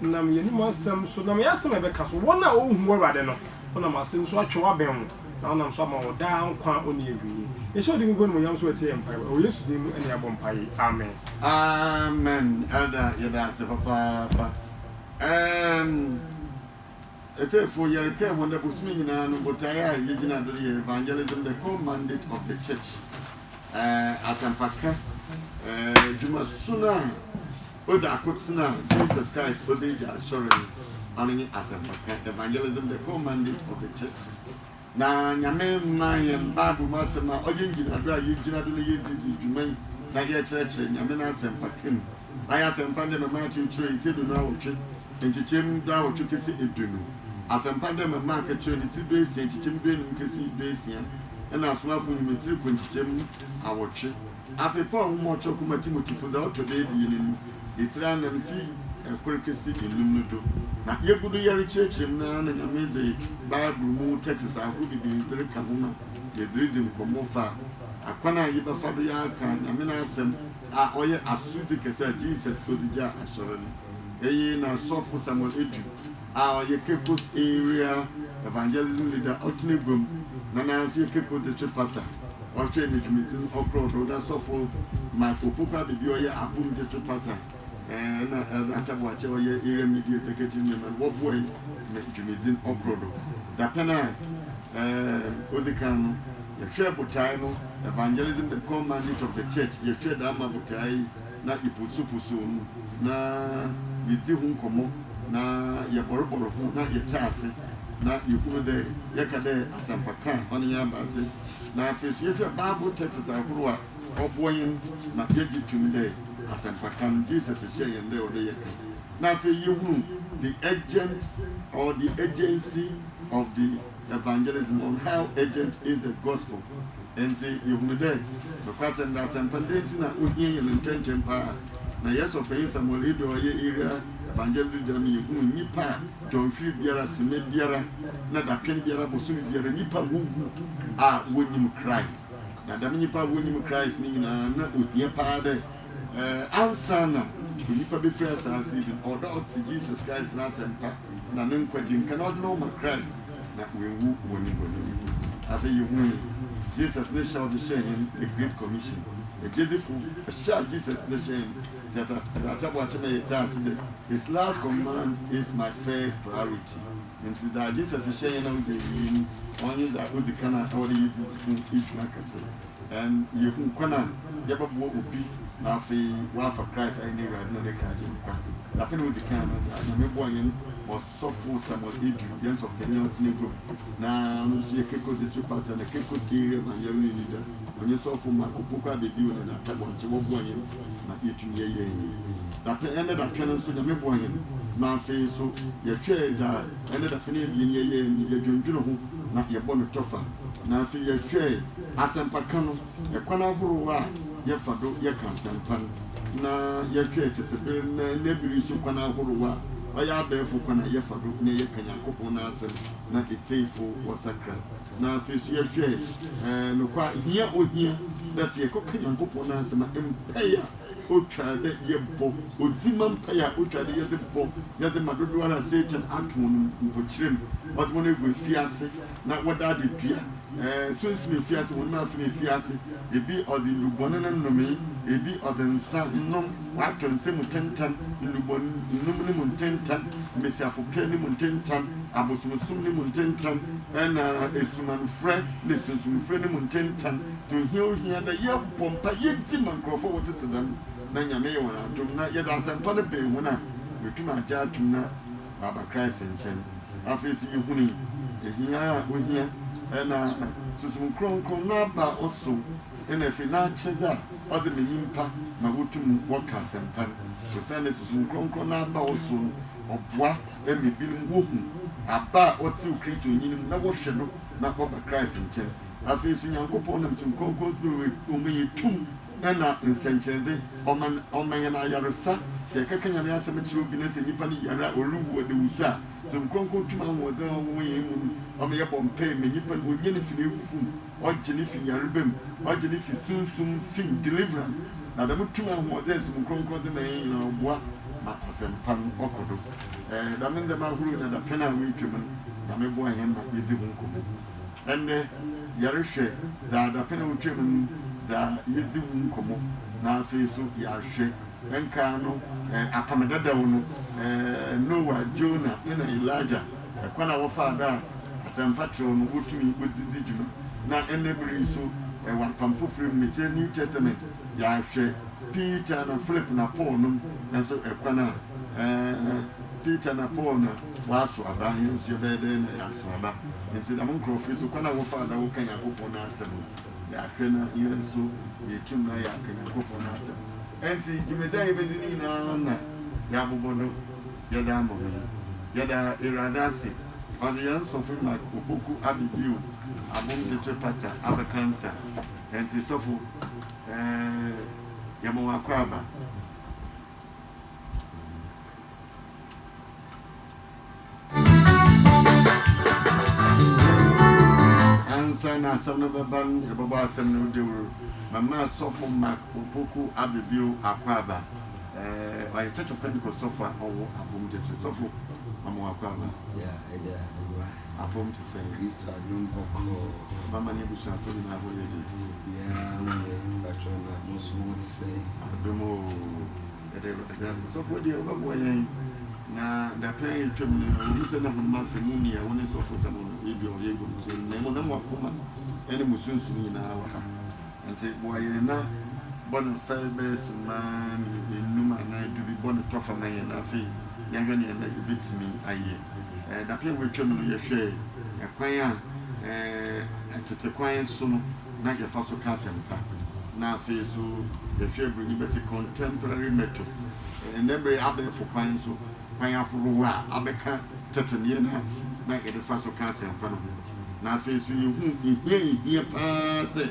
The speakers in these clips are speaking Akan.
Nam yɛanom asɛm so, nam yɛn asɛm a yɛbɛka so, wɔn a wɔnhu w'Awurade no, wonam ase nso atwe w'abɛn wo, na wonam so ama wɔ daa nkwa a ɔnni awieɛ. Yɛhyɛ wo din kronkron animuonyam so ɛtie yɛn mpaebɔ, ɛwɔ Yesu din mu ɛne yɛabɔ mpaeɛ. Amen. Amen Elder yɛdaase papaapa erm Ɔtiefoɔ yɛreka ɛho ndɛ bosome nyinaa no botaeɛ a yɛgyina do no yɛ evangelism the core mandate of the church erm asɛmpaka erm dwuma su no a Ogya akotena a Jesus Christ ɔdze egya asɔr no, ɔno nye asɛmpakã, evangelism, the core mandate of the church. Na Nyame maa hɛn Bible mu asɛm a ɔyɛ ngyinado a yegyina do na yedzi dzi dwuma yi na yɛkyerɛkyerɛ Nyame n'asɛmpakã mu. Mayɛ asɛmpa ndɛ mema akyerɛkyerɛ etsia eduonu-awɔtwe, nkyekyɛm du-awɔtwe kesi eduonu. Asɛmpa ndɛ mema akyerɛkyerɛ ne tsir du-esia, nkyekyɛm du-enum kesi du-esia, nna Asomafo Ndwom etsirkɔ nkyekyɛm awɔtwe. Afei Paul nwoma a ɔkyerɛw kɔma Timotefo dza ɔtɔ do ebien no, etsir anan fi kor kesi enum no do, na yegu do yɛrekyerɛkyerɛ mu no ara na Nyame dze Bible mu tɛkses ahorow beberee dze reka ho ma yɛdze ridzi nkɔmbɔ fa akwan a yebɛfa do yɛaaka Nyame n'asɛm a ɔyɛ asodzi kɛse a Jesus dze gyaa Asɔr no. Iyi na Sɔfo Samuel Edu. a ɔyɛ Caicos Area Evangelism Leader ɔtena aguam na na nso yɛ Caicos District Pastor ɔhwɛ Misumitsi no ɔkrɔɔ do na Sɔfo Mike Opoku Abibio ɔyɛ Apum District Pastor na Elder Atta Boakye ɔyɛ Area Media Executive Nyeama no wɔboae ma dwumadzi no ɔkrɔɔ do. Dapɛn a odzi kan no, yɛhwɛɛ botae no Evangelism, the Core Mandate of the Church, yɛhwɛɛ dɛm ama botae na iposoposo no, na yedzi ho nkɔmbɔ, na yɛbɔrbɔr ho, na yɛtse ase, na yehunu dɛ yɛka dɛ asɛmpa kã a ɔnye hɛn aba ase, na afei so yɛhwɛ Bible texts ahorow a ɔboa hɛn ma yɛgye to mu dɛ asɛmpa kã no Jesus hyɛɛ hɛn dɛ ɔwɔ dɛ yɛkã, na afei yehunu the urgent or the urgency of the. Evangelism on how urgent is the Gospel Ntsi yehunu dɛ nokwasɛm dɛ asɛmpa dɛ ntsi na ohia hɛn ntsɛntsɛm paa. Na yɛn sɔpanyin Samuel Hiddo a ɔyɛ Area Evangelist Leader no ma yehun nyimpa a dɔnhwer biara, sema biara, na dapɛn biara, bosoom biara nyimpa a wowu a wonnyim Christ. Na dɛm nyimpa a wonnyim Christ no nyina nna ohia paa dɛ Ansaana onipa bɛfiri asaase yi do no, ɔwɔ dɛ ɔtse Jesus Christ n'asɛmpa na ne nkwagye mu kã na ɔdze noho ma Christ na oewu wɔ ne bɔn mu. Afei yehui Jesus ne hyɛ a ɔdze hyɛɛ hɛn The Great Commission. Egyedzifo, hyɛ a Jesus dze hyɛɛ hɛn dze atabɔ akyɛ ma yɛtse ase dɛ, His last command is my first priority. Ntsi dza Jesus hyɛɛ hɛn a odzi ewiei no, ɔno nye dza odzi kan a ɔwɔ dɛ yedzi ho dwuma kɛse. Dɛn na yehu kwan a yɛbɛboa obi na afei wɔafa Christ a ɔyɛ Ewuradze na Ne nkragye no kwa? Dapɛn a odzi kan no, Nyame boaa hɛn ma ɔsɔfo Samuel Edu, hɛn sɔfopanyin a ɔtsen egua mu na ɔno so yɛ Caicos District Pastor na Caicos Area Banyɛlnyi Leader, ɔnye sɔfo Mark Opoku Abedeo na Doctor Bɔnkye wɔboaa hɛn ma yetum yɛyɛɛ hɛn dapɛn. Ndɛ dapɛn no so, Nyame boaa hɛn ma afei so yɛhwɛɛ dza ndɛ dapɛn ebien yɛyɛe no, yɛdwendwen ho na yɛbɔ no kyɔfa na afei yɛhwɛɛ Asɛmpakã no, kwan ahorow a yɛfa do yɛkã asɛmpa no, na yɛhwɛ tsetse ber na ndɛ ber yi so kwan ahorow a ɔyɛ abaɛfo kwan a yɛfa do na yɛkã Nyankopɔn n'asɛm na etsiefo wɔsakra. Na afei so yɛhwɛ nokwar hia a ohia dɛ sɛ yɛkɔkã Nyankopɔn n'asɛm a, mpaa a otwar dɛ yɛbɔ, odzima mpaa a otwar dɛ yɛdze bɔ, yɛdze ma dodowara a Satan atõ no mpo, kyerɛ mu, ɔdze hɔn egu efiase. na wɔda ade tua. Ɛɛ, sunsum efi ase, honam afã efi ase. Ebi ɔdze ndubɔn no nomee, ebi ɔdze nsa nom, ɔatɔ nsa mu tentan, ndubɔn nnum no mu ntentan, mbasiafopɛ no mu ntentan, abosomsom no mu ntentan, na esumanfrɛ na esunsumfrɛ no mu ntentan. Dza ohia ohia dɛ yɛbɔ mpaa, yedzi ma nkorɔfo a wɔtsetse dɛm, na Nyame yɛ hɔn adom na yɛdze asɛmpa no ben hɔn a, woetum agye ato mu na, aba Christ nkyɛn. Afei so yehunii ehia a ohia na Sunsum Krɔnkrɔn n'aba ɔsom na afei n'akyɛdze a ɔdze ma nyimpa ma wotum wɔkã asɛmpa no. Osiandɛ Sunsum Krɔnkrɔn n'aba ɔsom no, ɔboa ma binom wohu aba a ɔtsew Christonyi no mu na wɔhwɛ no na ɔba Christ nkyɛn. Afei so Nyankopɔn nam Sunsum Krɔnkrɔn do ma yetum Dɛn na nsɛnkyerɛdze ɔma ɔma hɛn ayarsa? Sɛ yɛkɛkanyan yɛn asɛm kyerɛ obi na sɛ nyimpa no yar a oruwu ɔdawusu a, Dzɔn Krɔnkrɔn tum ahoɔdzen a ɔwɔ wɔ hɛn mu no ɔma yɛbɔ mpaa ma nyimpa no onyan fi n'ewufo mu, ɔgye no fi yarba mu, ɔgye no fi sunsum fi mu, deliverance. Na dɛm tum ahoɔdzen a Dzɔn Krɔnkrɔn dze ma hɛn nyina no ɔboa ma asɛmpa no ɔkɔ do. Dɛm ndzɛmba ahorow nya dapɛn a woetwa mu no, Nyame boa hɛn ma yedzi ho nkɔmbɔ. Ndɛ yɛrohwɛ dza dapɛn a otwaa mu no dza yedzi ho nkɔmbɔ na afei so yɛahwɛ nkaa no Apam Dadaw no, Noah, Jonah na Elijah, kwan a wɔfaa do a asɛmpa tserɛw no wotumii wɔdze dzi dwuma na ndɛ ber yi so wɔ Apam Fofor mu, mekyerɛ New Testament, yɛahwɛ Peter na Philip na Paul nom so kwan a Peter na Paul na. Wɔaso aba he nso yɛbɛyɛ dɛn na yɛaso aba? Nti dɛm nkorɔfo yi so, kwan a wɔfaa do a wɔkã Nyankopɔn n'asɛm no, yɛahwɛ na hɛn so yeetum na yɛakã Nyankopɔn n'asɛm. Ntsi dwumadzi a yebedzi no nyina na yɛabobɔ do yɛdze ama hɔn yi. Yɛda Ewuradze ase, ɔdze hɛn Sɔfo Mark Opoku aba bio, Abom District Pastor abɛkã nsa. Ntsi Sɔfo, yɛma wo akwaaba. Ansa na asɛm no bɛba no, yɛbɛbɔ asɛm no dawur. Mama Sɔfo Mark Opoku Abebio Akwaaba. Ɔyɛ Church of Pentecost sɔfo a ɔwɔ Apom Gyekye. Sɔfo, mama Akwaaba. Yɛ Agya Yehowa. Apom te sɛn? Kristo adom bɔkɔɔ. Mama ne abusuafo nyinaa ho yɛ den. Obiara ho yɛ, mpakyɛw na mo nso mo ho te sɛn? Adom oo. Ɛda ɛda ase sɔfoɔ deɛ wobɛboa yɛn na dapɛn a ɛtwam no na wɔhu sɛ na honam afa mu ni a wo ne sɔfo sɛ mo no ebia ɔyɛ adwuma mu sɛ mmɛ mu na mo akoma ne mo sunsum nyinaa wɔ ha nti boa yɛn na bɔ no fɛ bɛyɛ simma nnum anaa du bi bɔ no tɔ fa ma yɛn na afei yɛhwɛ neɛ na yɛbɛtumi ayɛ ɛɛ dapɛn a wɔatwam no yɛhwɛ ɛkwan a ɛɛ tete kwan so no na yɛfa so ka asɛmpa, na afei nso yɛhwɛ Buroni bɛse contemporary methods, ɛnnɛ mmere abɛɛfo kwan nso, kwan ahorow a abɛka tete nneɛma a na yɛde fa so ka asɛmpa no ho. Na afei nso yehu hia a ehia paa sɛ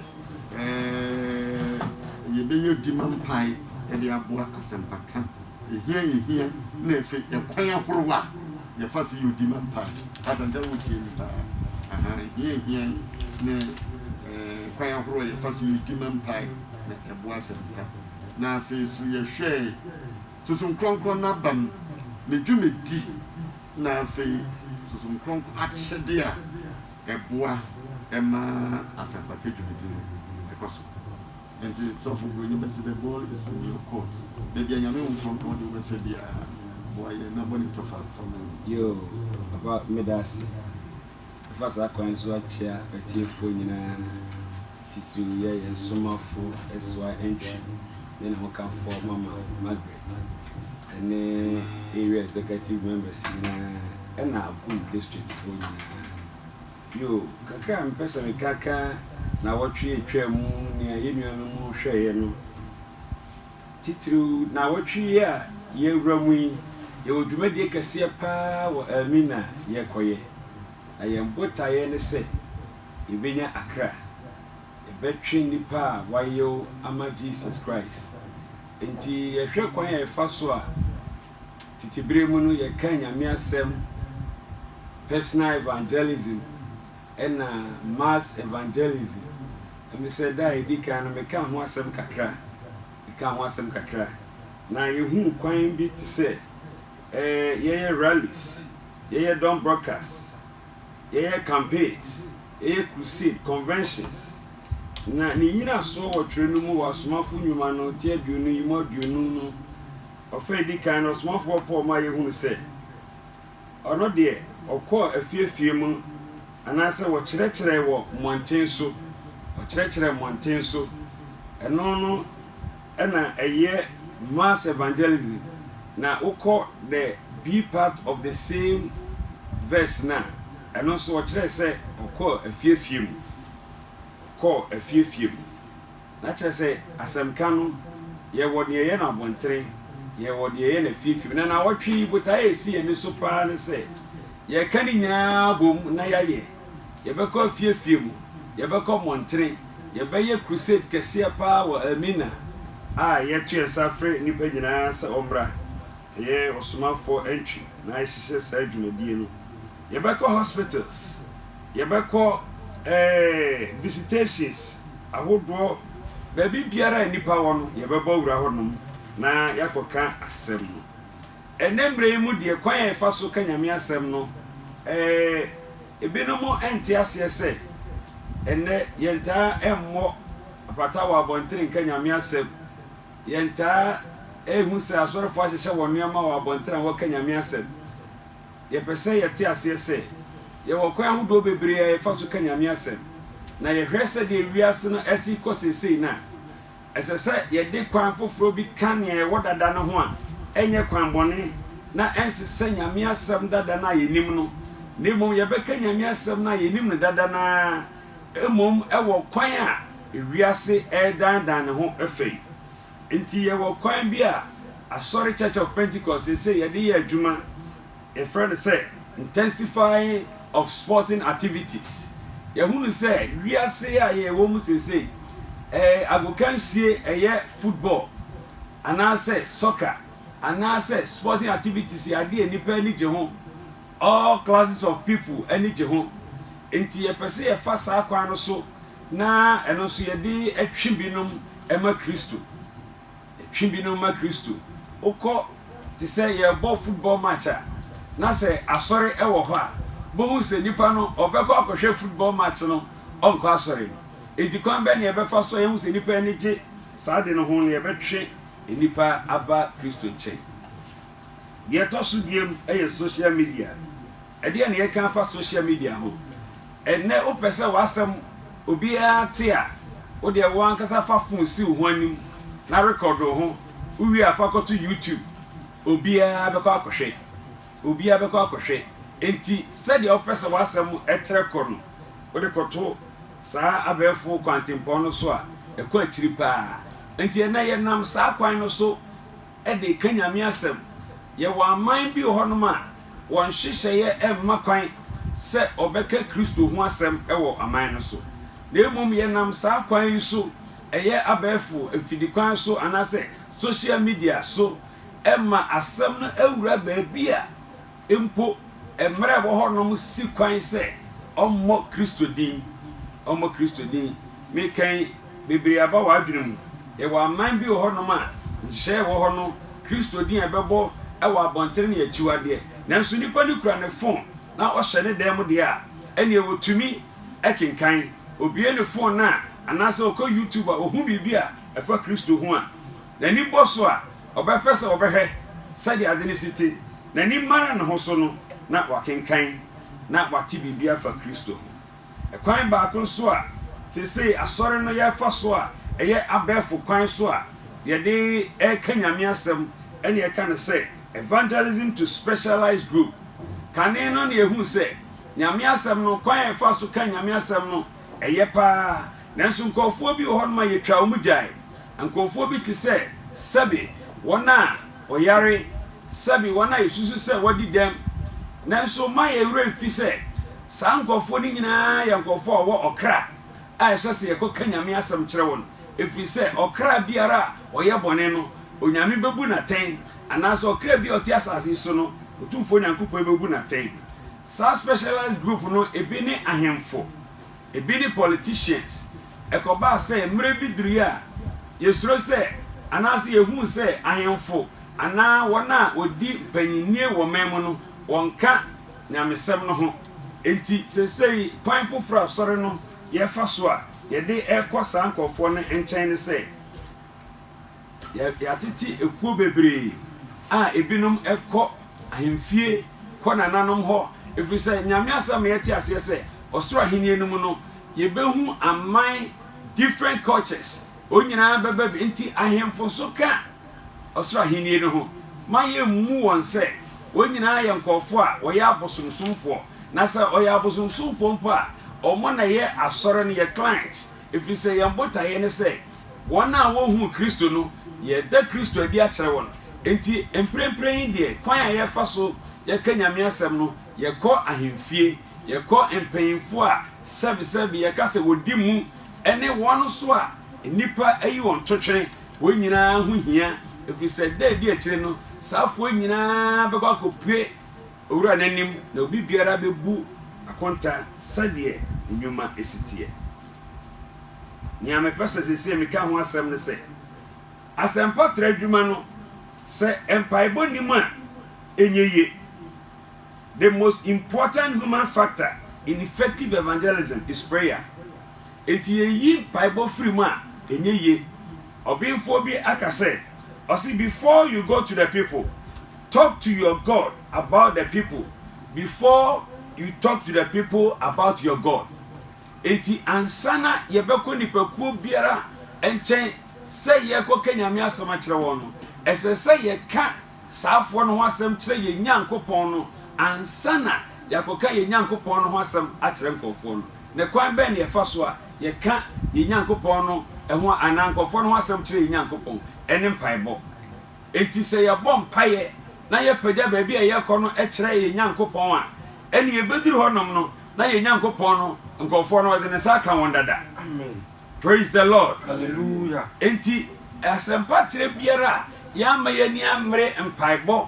yɛbɛyɛ dimma mpae de aboa asɛmpaka. Ehia yehia na ɛfɛ ɛkwan ahorow a yɛfa so yɛ odi ma mpa. Asante wo tie me paa aha ehia ehia ne ɛɛ kwan ahorow a yɛfa so yɛ odi ma mpa na ɛboa asɛmpa. Na afei so yɛhwɛɛ Susun Krɔnkrɔn n'abam ne dwumadi na afei Susun Krɔnkrɔn akyɛde a ɛboa ɛma asɛmpaka dwumadi no ɛkɔ so. Enti sɔfo broni bɛse the ball is in your court baabi a nyame honkrɔnkrɔn de wo bɛfa biaa boa yɛn na bɔ ne tɔfa fa ma yɛn. Yoo papa medase. Mɛfa saa kwan yi so akyea atiefoɔ nyinaa titiriw yɛ yɛn somafo SY Antwi ne ne hokafoɔ Mama Margaret ɛne Area Executive Members nyinaa ɛna Agum Districtfoɔ nyinaa. Bio, kakra a mepɛ sɛ meka ka nnawɔtwe a etwaa mu ho nea yɛn nuanom hwɛe no, titiriw nnawɔtwe yi a yɛrewura mu yi, yɛwɔ dwumadi kɛseɛ paa wɔ Elmina a yɛrekɔyɛ, na yɛn botaeɛ ne sɛ yɛbɛnya akra. Yɛbɛtwe nnipa a wɔayew ama Jesus Christ. Enti yɛhwɛ kwan a yɛfa so a. Tete bere mu no, yɛkaa Nyame asɛm, personal evangelism ɛna mass evangelism. Ɛme sɛ da a ɛdi kan no mekaa ho asɛm kakra, mekaa ho asɛm kakra. Na yɛhuu kwan bi te sɛ eh, yɛyɛ rallies, yɛyɛ dɔm broadcast, yɛyɛ campaigns, yɛyɛ crusade, conventions. Na ne nyinasoɔ wɔ twerɛ no mu wɔ Asomafo Nnwuma no ti aduonu yi mu aduonu no. Ɔfa a edi kan no, ɔsomafo Paul ma yehunu sɛ ɔno deɛ, ɔkɔɔ afie afie mu anaasɛ wɔkyerɛkyerɛe wɔ mmɔnten so. Ɔkyerɛkyerɛɛ mmɔnten so. Ɛno no na ɛyɛ mass evangelism. Na wokɔ the B part of the same verse no a, ɛno nso ɔkyerɛe sɛ ɔkɔɔ afie afie mu. Ɔkɔɔ afie afie mu. Na kyerɛ sɛ, asɛmka no, yɛwɔ deɛ ɛyɛ no abontere, yɛwɔ deɛ ɛyɛ no afiefie. Na nnawɔtwe yi, botaeɛ a ɛsi yɛn ani so pa ara ne sɛ, yɛreka ne nyinaa abom na yɛayɛ. Yɛbɛkɔ afiefie mu, yɛbɛkɔ mmɔntene, yɛbɛyɛ crusade kɛseɛ pa ara wɔ Elmina a yɛto yɛn nsa frɛ nnipa nyinaa sɛ wɔmmra. Yɛ ɔsomafoɔ entry na yɛhyehyɛ saa dwumadie no. Yɛbɛkɔ hospitals, yɛbɛkɔ eh, visitations ahodoɔ, baabi biara a nnipa wɔ no yɛbɛbɔ awura hɔ nom na yɛakɔka asɛm no. Ɛnnɛ mmerɛ yi mu deɛ kwan a yɛfa so ka Nyame asɛm no eh, ebinom nte aseɛ sɛ ɛnnɛ yɛntaa mmɔ apata wɔ abɔntene nka Nyame asɛm Yɛtaa hu sɛ asɔrefo ahyehyɛ wɔn nneɛma wɔ abɔnten a wɔka Nyame asɛm. Yɛpɛ sɛ yɛte aseɛ sɛ, yɛwɔ kwan ahodoɔ bebree a yɛfa so ka Nyame asɛm, na yɛhwɛ sɛdeɛ wiase no asi rekɔ seesei no a, ɛsɛ sɛ yɛde kwan foforɔ bi ka nea ɛwɔ dada no ho a ɛnyɛ kwan bɔne na ɛnsesɛ Nyame asɛm dada no a yɛnim no, na mmom yɛbɛka Nyame asɛm no a yɛnim no dada no ara mmom wɔ kwan a Wiase redannan ne ho afa yi nti, yɛwɔ kwan bi a Asɔre Church of Pentecost seesei yɛde yɛ adwuma. Yɛfrɛ no sɛ Intensifying of Sporting Activities. Yɛahunu sɛ wiase a yɛwɔ mu seesei, ɛɛ, agokansie, ɛyɛ football anaasɛ soccer anaasɛ sporting activities yɛ adeɛ a nnipa ani gye ho. All classes of people ani gye ho. Nti yɛpɛ sɛ yɛfa saa kwan no so Na ɛno nso yɛde twe binom ma Kristo. Yɛtwe binom ma Kristo. Wokɔ te sɛ yɛrebɔ football match a, na sɛ asɔre wɔ hɔ a, wobɛhu sɛ nipa no ɔbɛkɔ akɔhwɛ football match no, ɔnkɔ asɔre. Enti kwan bɛn na yɛbɛfa so a yɛahu sɛ nipa ani gye saa ade no ho na yɛbɛtwe nipa aba Kristo nkyɛn? Deɛ ɛtɔ so biam yɛ social media. Ɛdeɛn na yɛka afa social media ho? Ɛnnɛ wopɛ sɛ w'asɛm obiara te a, wodeɛ wo ankasa fa phone si wo ho anim na record wo ho, wowie a fa kɔto YouTube, obiara bɛkɔ akɔhwɛ, obiara bɛkɔ akɔhwɛ. Enti sɛdeɛ wopɛ sɛ w'asɛm trɛ kɔ no, wode kɔto saa abɛɛfo kwantempɔn no so a, ɛkɔ akyiri paa. Enti ɛnnɛ yɛnam saa kwan no so. de reka Nyame asɛm. Yɛwɔ aman bi wɔ hɔnom a wɔn nhyehyɛeɛ mma kwan sɛ wɔbɛka Kristo ho asɛm wɔ aman no so. Na mmom yɛnam saa kwan yi so, ɛyɛ abɛɛfo mfidi kwan so anaasɛ social media so, ma asɛm no awura baabi a Mpo mmara a ɛwɔ hɔ nom si kwan sɛ ɔmmɔ Kristo din. Ɔmmɔ Kristo din. Meka yi, bebree aba w'adwene mu. Yɛwɔ aman bi wɔ hɔ nom a, nhyehyɛe a ɛwɔ hɔ no, Kristo din a yɛbɛbɔ wɔ abɔntene no yɛ akyiwadeɛ. Nanso nipa no kura ne fon na ɔhyɛ ne dan mu deɛ a, ɛnneɛ ɔtumi kenkan. Ɔbue ne fon no a, anaasɛ ɔkɔ YouTube a, ɔhu biribi a ɛfa Kristo ho a, N'ani bɔ so a, ɔbɛpɛ sɛ ɔbɛhwɛ sɛdeɛ ade no si te. N'ani mara ne ho so no, na wakenkan na wate biribi afa Kristo ho. Ɛkwan baako nso a seesei Asɔre no yɛfa so a ɛyɛ abɛɛfo kwan so a yɛde reka Nyame asɛm ne yɛka no sɛ Evangelism to Specialized Group. Kane no na yɛhuu sɛ Nyame asɛm no, kwan a yɛfa so ka Nyame asɛm no, ɛyɛ paa. Nanso nkurɔfoɔ bi wɔ hɔnom a yɛtwaa wɔn gyae. Nkurɔfoɔ bi te sɛ, sɛbe, wɔn a wɔyare, sɛbe, wɔn a yɛsusu sɛ wɔadi dɛm. Nanso mma yɛn werɛ mfi sɛ, saa nkurɔfoɔ no nyinaa yɛ nkurɔfoɔ a wɔwɔ ɔkra a ɛsɛ sɛ yɛkɔka Nyame asɛm kyerɛ wɔn, ɛfiri sɛ ɔkra biara a ɔyɛ bɔne no, Onyame bɛbu no atɛn, anaasɛ ɔkra bi a ɔte asase yi so no, Otumfoɔ Nyankopɔn bɛbu no atɛn. Saa specialized group no, ebi ne ahemfo. Ebi ne politicians. Ɛkɔbaa sɛ mmere bi durui a yesuro sɛ anaasɛ yehu sɛ ahemfo anaa wɔn a wɔdi mpanyinnie wɔ ɔman mu no wɔnka nyamesɛm no ho. Enti seesei kwan foforo a Asɔre no yɛfa so a yɛde rekɔ saa nkurɔfoɔ no nkyɛn ne sɛ, Yɛatete ekuo bebree a ebinom kɔ ahemfie, kɔ nananom hɔ, ɛfiri sɛ Nyame asɛm ma yɛte aseɛ sɛ ɔsoro ahennie no mu no yɛbɛhu aman, different cultures, wɔn nyinaa bɛba bi, nti ahemfo nso ka ɔsoro ahennie no ho ma yɛmmu wɔn sɛ wɔn nyinaa yɛ nkurɔfoɔ a wɔyɛ abosomsomfoɔ, na sɛ ɔyɛ abosomsomfoɔ mpo a wɔn na ɛyɛ asɔre no yɛ clients, ɛfiri sɛ yɛn botaeɛ ne sɛ Wɔn a wɔnhuu Kristo no, yɛreda Kristo adi akyerɛ wɔn. Enti, mprempren yi deɛ, kwan a yɛfa so yɛka Nyame asɛm no, yɛkɔ ahemfie, yɛkɔ mpanyimfo a sɛbesɛbe yɛka sɛ wɔdi mu, ne wɔn nso a nnipa ayi wɔn totwene, wɔn nyinaa ho hia, ɛfiri sɛ da a ɛdi akyire no, saa afoɔ yi nyinaa bɛkɔ akɔpue Owura no anim, na obi biara bɛbu akonta sɛdeɛ ne nnwuma si teɛ. Nea mepɛ sɛ seesei meka ho asɛm ne sɛ, asɛmpatrɛ adwuma no, sɛ mpaebɔ nni mu a, ɛnyɛ yie. The most important human factor in effective evangelism is prayer. Enti yɛyi mpaebɔ firi mu a, ɛnyɛ yie. Ɔbenfoɔ bi aka sɛ, ɔse, Before you go to the people, talk to your God about the people before you talk to the people about your God. Enti ansa na yɛbɛkɔ nnipakuo biara nkyɛn sɛ yɛrekɔka Nyame asɛm akyerɛ wɔn no, ɛsɛ sɛ yɛka saafoɔ no ho asɛm kyerɛ yɛn Nyankopɔn no ansa na yɛakɔka yɛn Nyankopɔn no ho asɛm akyerɛ nkorɔfoɔ no. Na kwan bɛn na yɛfa so a yɛka yɛn Nyankopɔn no ho anaa nkorɔfoɔ no ho asɛm kyerɛ yɛn Nyankopɔn? Ɛne mpaebɔ. Enti sɛ yɛbɔ mpaeɛ na yɛpagya baabi a yɛrekɔ no kyerɛ yɛn Nyankopɔn a, ɛnneɛ yɛbɛduru hɔnom no, na yɛn Nyankopɔn no nkurɔfoɔ no, ɔde ne nsa aka wɔn dada. Amen. Praise the Lord. Hallelujah. Enti asɛmpatrɛ biara a yɛamma yɛn ani ammere mpaebɔ,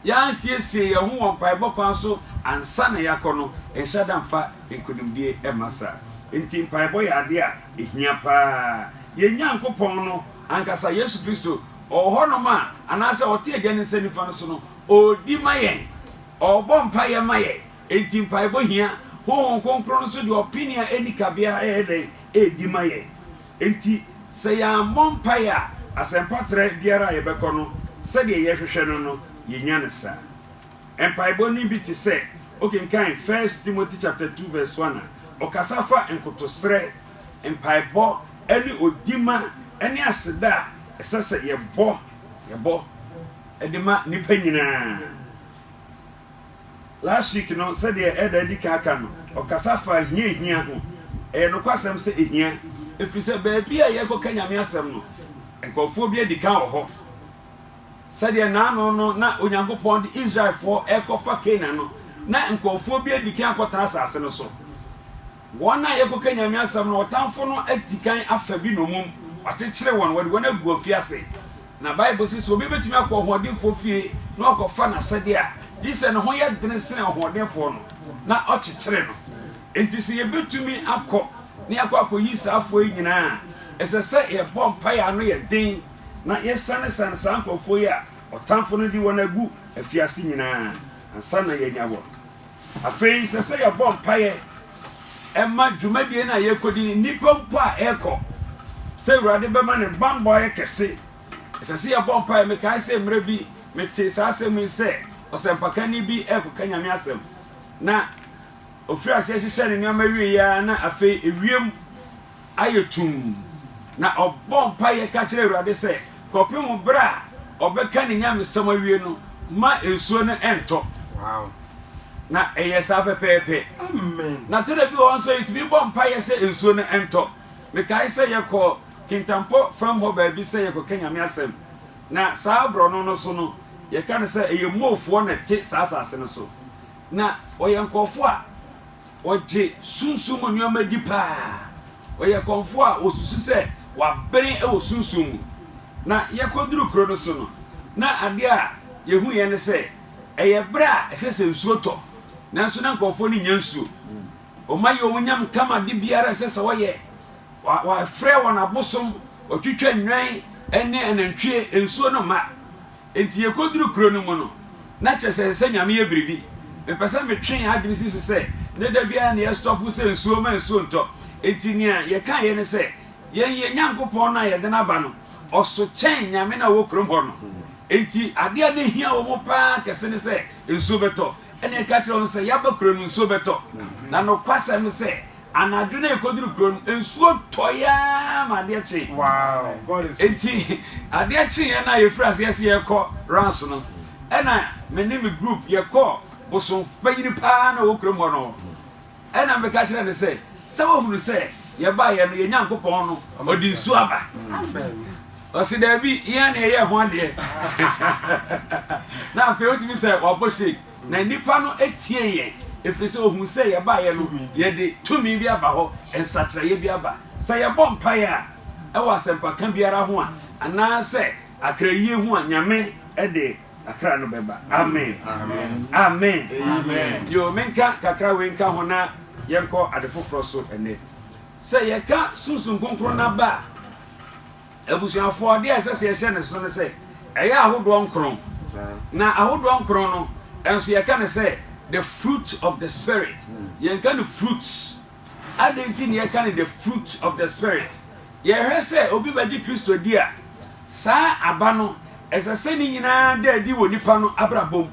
yɛansiesie yɛn ho wɔ mpaebɔ kwan so ansa na yɛakɔ no, nhyɛ da mfa nkonimdie mma saa. Enti mpaebɔ yɛ adeɛ a ɛhia pa ara. Yɛn Nyankopɔn no ankasa, Yesu Kristo, ɔwɔ hɔnom a, anaasɛ ɔte Agya no nsa nifa no so no, ɔredi ma yɛn. Ɔrebɔ mpaeɛ ma yɛn. Enti mpaebɔ hia. Honhom Kronkron no nso de ɔpene a ɛnni kabea ɛyɛ dɛn? Ɛredi ma yɛn. Enti, sɛ yɛammɔ mpae a, asɛmpatrɛ biara a yɛbɛkɔ no, sɛdeɛ yɛhwehwɛ no no, yɛnnya no saa. Mpaebɔ no bi te sɛ, wokenkan First Timothy chapter two verse one a, ɔkasa fa nkotosrɛ, mpaebɔ, ne odima ne aseda a ɛsɛ sɛ yɛbɔ yɛbɔ de ma nnipa nyinaa. Last week no, sɛdeɛ Elder adi kan aka no, ɔkasa faa hiahia ho. Ɛyɛ nokwasɛm sɛ ehia, ɛfiri sɛ baabi a yɛrekɔka Nyame asɛm no, nkorɔfoɔ bi adi kan wɔ hɔ. Sɛdeɛ nnaano no na Onyankopɔn de Israelfoɔ rekɔfa Canaan no, na nkorɔfoɔ bi adi kan akɔtena asase no so. Wɔn a yɛkɔka Nyame asɛm no, ɔtamfo no atikan afa bi nnommum, wakyekyere wɔn, wɔde wɔn agu afiase. Na Bible se, sɛ obi bɛtumi akɔ ɔhoɔdenfoɔ fie na wakɔfa n'asɛdeɛ a, gye sɛ ne ho yɛ dene sene ɔhoɔdenfoɔ no, na ɔkyekyere no. Enti sɛ yɛbɛtumi akɔ na yɛakɔ akɔyi saa afoɔ yi nyinaa a, ɛsɛ sɛ yɛbɔ mpaeɛ a ano yɛ den, na yɛsanesane saa nkorɔfoɔ yi a ɔtamfo no de wɔn agu afiase nyinaa ansa na yɛanya wɔn. Afei ɛsɛ sɛ yɛbɔ mpaeɛ ma dwumadie no a yɛrekɔdi no, nnipa mpo a ɛrekɔ, sɛ Awurade bɛma ne bammɔ ayɛ kɛse. Ɛsɛ sɛ yɛbɔ mpaeɛ. Mekae sɛ mmerɛ bi metee saa asɛm yi sɛ ɔsɛmpakani bi rekɔka Nyame asɛm, na ɔfirii aseɛ hyehyɛɛ ne nneɛma wieeɛ ara na afei ewiem, ayɛ tumm, na ɔbɔɔ mpaeɛ ka kyerɛɛ Awurade sɛ, kɔpem berɛ a ɔbɛka ne nyamesɛm awie no, mma nsuo no ntɔ. Wow. Na ɛyɛ saa pɛpɛɛpɛ. Amen. Na tena bi wɔ hɔ nso, yɛtumi bɔ mpaeɛ sɛ nsuo no ntɔ. Mekae sɛ yɛkɔ Kintampo fam hɔ baabi sɛ yɛkɔka Nyame asɛm, na saa borɔno no so no, yɛka no sɛ ɛyɛ Moofoɔ na ɛte saa asase no so. Na wɔyɛ nkurɔfoɔ a. Ɔgye sunsum mu nneɛma di paa. Ɔyɛ kɔmfoɔ a ɔsusu sɛ wabene wɔ sunsum mu. Na yɛkɔduru kuro no so no, na adeɛ a yɛhuiɛ ne sɛ, ɛyɛ berɛ a ɛsɛ sɛ nsuo tɔ, nanso na nkurɔfoɔ no nnya nsuo. Wɔma yɛ wɔn nyam kama ade biara a ɛsɛ sɛ wɔyɛ. Wa, wafrɛ wɔn abosom, wɔtwitwa nnwan ne anantwie, nsuo no mma. Enti yekoduru kuro no mu no, na kyerɛ sɛ ɛnsɛ Nyame yɛ biribi. Mepɛ sɛ metwe yɛn adwene si so sɛ, ɛnyɛ da biara na yɛstɔpo sɛ nsuo mma nsuo ntɔ. Enti nea yɛkaeɛ ne sɛ, Yɛn yɛn Nyankopɔn no a yɛde no aba no, ɔso kyɛn Nyame no a ɔwɔ kurom hɔ no. Enti adeɛ a na ɛhia wɔn paa kɛse ne sɛ nsuo bɛtɔ. Ɛnna yɛka kyerɛɛ wɔn sɛ, Yɛaba kuro no, nsuo bɛtɔ. Na nokwasɛm ne sɛ, Anadwo no a yekoduu kurow no mu, nsuo tɔe ara ma adeɛ kyee. Enti adeɛ kyeeɛ no a yefiri aseɛ sɛ yɛrekɔ Reims no, ɛnna me ne me group yɛkɔɔ bosom panyin pa ara na ɔwɔ kurom hɔ no hɔ. Ɛnna meka kyerɛɛ no sɛ, Sɛ woahunu sɛ yɛbaeɛ no, yɛn Nyankopɔn no ɔde nsuo aba? Ɔse, Dabi, yɛn ara na yɛyɛɛ ho adeɛ. Na afei otumi sɛ wabɔ shake. Na nnipa no tiee yɛn, ɛfiri sɛ wɔhuu sɛ yɛbaeɛ no, yɛde tumi bi aba hɔ, nsakyeraeɛ bi aba. Sɛ yɛbɔ mpaeɛ a, ɛwɔ asɛmpaka biara ho a, anaasɛ akrayie ho a, Nyame de akra no bɛba. Amen. Amen. Yo, menka kakra wei nka ho na yɛnkɔ ade foforɔ so ɛnnɛ. Sɛ yɛka Sunsum Kronkron no aba a, Abusuafoɔ, adeɛ a ɛsɛ sɛ yɛhyɛ no nso ne sɛ, ɛyɛ ahodoɔ nkron. Na ahodoɔ nkron no nso yɛka no sɛ the fruit of the spirit. Yɛnka no fruits. Adɛn nti na yɛka no the fruit of the spirit? Yɛhwɛ sɛ obi bɛgye Kristo di a, saa aba no, ɛsɛ sɛ ne nyinaa da adi wɔ nipa no abrabɔ mu.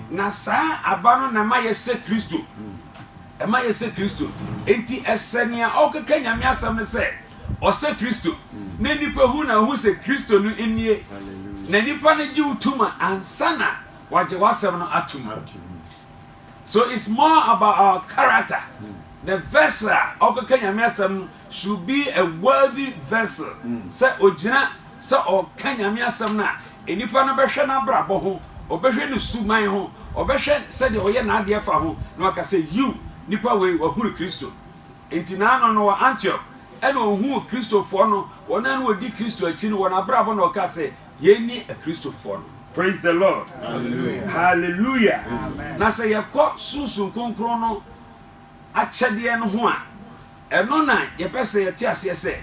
Na saa aba no na ɛma yɛsɛ Kristo. Ɛma yɛsɛ Kristo. Enti ɛsɛ nea ɔkeka Nyame asɛm no sɛ ɔsɛ Kristo. Na nnipa hu na wohu sɛ Kristo no nie. Na nnipa no gye wo tom a, ansa na wɔagye w'asɛm no atom. So it's more about our character. The vessel a ɔkɔka Nyame asɛm no should be a worthy vessel. Sɛ ogyina sɛ ɔka Nyame asɛm no a, nnipa no bɛhwɛ n'abrabɔ ho, ɔbɛhwɛ ne suman ho, ɔbɛhwɛ sɛdeɛ ɔyɛ n'adeɛ fa ho, na waka sɛ, Yiw, nipa wei wahunu Kristo. Enti n'ano no wɔ Antiok ɛna ohuu Kristofoɔ no, wɔn a na wɔdi Kristo akyi no, wɔn abrabɔ na ɔkaa sɛ, Yei ne Akristofoɔ no. Praise the Lord! Hallelujah! Na sɛ yɛkɔ Sunsum Kronkron no akyɛdeɛ no ho a, ɛno na yɛpɛ sɛ yɛte aseɛ sɛ,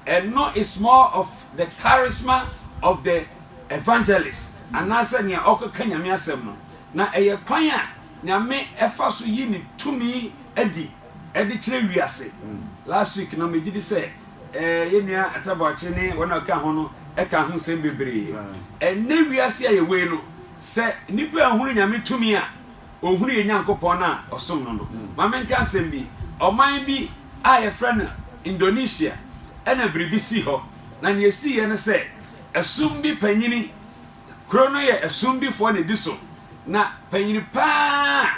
ɛno is more of the charisma of the evangelist, anaasɛ nea ɔrekɔka Nyame asɛm no, na ɛyɛ kwan a Nyame ɛfa so yi ne tumi adi ɛde kyerɛ wiase. Last week no megye di sɛ yɛn nua Atta Boakye ne wɔn a ɔka ho no ɛkaa ho nsɛm bebree. Ɛnnɛ wiase a yɛwɔ yi no, sɛ nipa anhunu Nyame tumi a, ɔnhunu yɛn Nyankopɔn no a ɔsom no no. Ma me nka asɛm bi, ɔman bi a yɛfrɛ no Indonesia ɛna biribi sii hɔ. Na nea ɛsiiɛ ne sɛ, ɛsom bi panyini, Kuro no yɛ Asumdifoɔ na ɛdi so, na panyini pa ara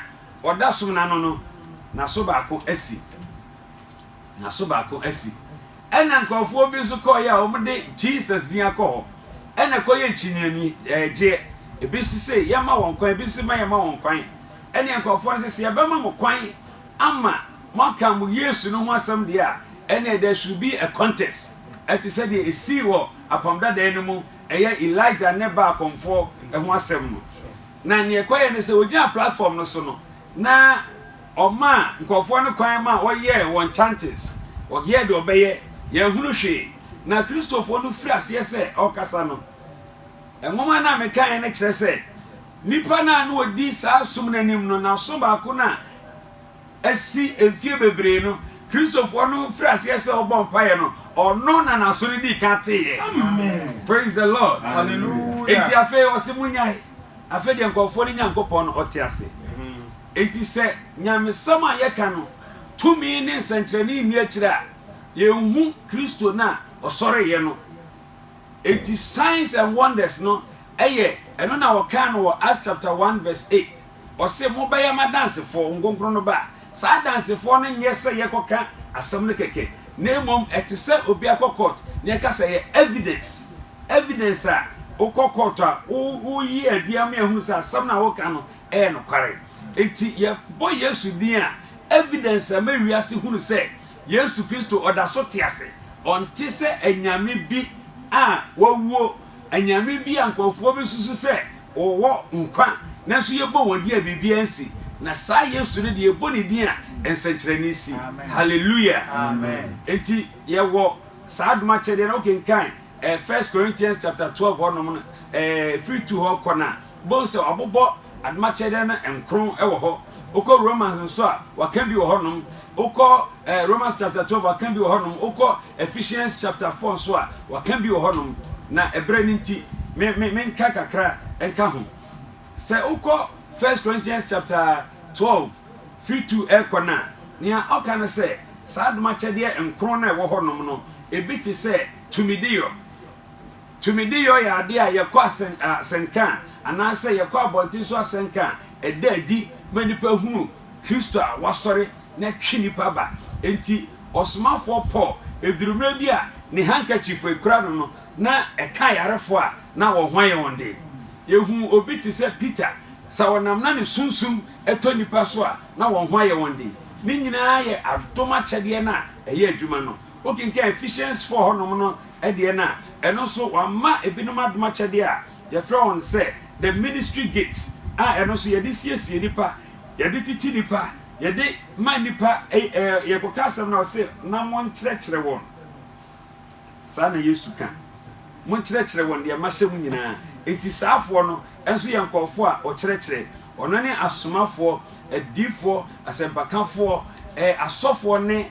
a ɔda som no ano no, n'aso baako asi. N'aso baako asi. Ɛna nkurɔfoɔ bi nso kɔɔeɛ a wɔde Jesus din akɔ hɔ, ɛna ɛkɔyɛ nkyinianigyeɛ. Ebi se se yɛmma wɔn kwan, ebi se ma yɛmma wɔn kwan. Ɛne nkurɔfoɔ no se se yɛbɛma mo kwan ama moaka mo Yesu no ho asɛm deɛ a, ɛneɛ there should be a contest. Ɛte sɛ deɛ ɛsii wɔ Apam Dadaa no mu ɛyɛ Elijah ne Baal kɔmfoɔ ho asɛm no. Na nea ɛkɔeɛ ne sɛ, ɔgyinaa platform no so no, na ɔmaa nkurɔfoɔ no kwan ma wɔyɛɛ wɔn chantings, wɔyɛɛ deɛ wɔbɛyɛ, yɛanhunu hwee. Na Kristofoɔ no firi aseɛ sɛ ɔrekasa no, nwoma no a mekaeɛ no kyerɛ sɛ, nnipa no a na wɔdi saa som no anim no, na ɔso baako no a, asi mfie bebree no, Kristofo no firi aseɛ sɛ ɔbɔ mpaeɛ no, ɔno na n'aso no dii kan teeɛ. Praise the Lord. Hallelujah. Enti afei ɔse monyae. Afei deɛ nkurɔfoɔ no Nyankopɔn no ɔte ase. Enti sɛ nyamesɛm a yɛka no tumi ne nsɛnkyerɛnne nni akyire a, yɛnhu Kristo no a ɔsɔreeɛ no. Enti signs and wonders no yɛ ɛno na wɔkaa no wɔ Acts chapter 1 verse 8. Ɔse, Mobɛyɛ m'adansefoɔ, Honhom Kronkron no ba a, saa adansefoɔ no nyɛ sɛ yɛkɔka asɛm no kɛkɛ, na mmom ɛte sɛ obi akɔ court na yɛka sɛ ɛyɛ evidence, evidence a wokɔ court a woyi adi ama yɛahunu sɛ asɛm no a woka no yɛ nokware. Enti yɛbɔ Yesu din a, evidence a ɛma wiase hunu sɛ Yesu Kristo ɔda so te ase, ɔnte sɛ anyame bi a wɔawuo. anyame bi a nkurɔfoɔ bɛsusu sɛ wɔwɔ nkwa nanso yɛbɔ wɔn din a biribiara nsi, na saa Yesu no deɛ yɛbɔ ne din a nsɛnkyerɛnne si. Hallelujah! Amen. Enti yɛwɔ saa adom akyɛdeɛ no. Wokenkan eh, First Corinthians chapter 12 hɔnom no, eh, firi tu hɔ kɔ no a, Bohu sɛ wɔabobɔ adomakyɛdeɛ no nkron wɔ hɔ. Wokɔ Romans nso a, wɔaka bi wɔ hɔnom. Wokɔ eh, Romans chapter 12, wɔaka bi wɔ hɔnom. Wokɔ Ephesians chapter 4 nso a, wɔaka bi wɔ hɔnom. Na ɛberɛ no nti, me, me, menka kakra nka ho. Sɛ wokɔ First Corinthians chapter 12, firi 2 ɛrekɔ no a, nea ɔka no sɛ, saa adomakyɛdeɛ nkron no a ɛwɔ hɔnom no, ebi te sɛ tumideyɔ. Tumideyɔ yɛ adeɛ a yɛkɔ asɛnka a anaasɛ yɛkɔ abɔnten so asɛnka a ɛda adi ma nnipa hunu Kristo a wasɔre na twe nnipa ba. Enti ɔsomafoɔ Paul, ɛduru mmerɛ bi a ne handkerchief a ɛkura no no na ɛka ayarefoɔ a na wɔn ho ayɛ wɔn den. Yɛhunu obi te sɛ Peter, sɛ ɔnam na ne sunsum tɔ nnipa so a na wɔn ho ayɛ wɔn den. Ne nyinaa yɛ adom akyɛdeɛ no a ɛyɛ adwuma no. Wokenkan Ephesiansfoɔ hɔnom no deɛ no a, ɛno nso wɔama ebinom adom akyɛdeɛ a yɛfrɛ wɔn sɛ the ministry gifts a ɛno nso yɛde siesie nnipa, yɛde titi nnipa, yɛde ma nnipa ɛɛ yɛkɔka asɛm no a ɔse na monkyerɛkyerɛ wɔn. Saa na Yesu ka. Monkyerɛkyerɛ wɔn deɛ mahyɛ mo nyinaa. Enti saafoɔ no nso yɛ nkɔɔfoɔ a wɔkyerɛkyerɛ. Wɔn ne asomafoɔ, adiifoɔ, asɛmpakafoɔ, ɛɛ asɔfoɔ ne.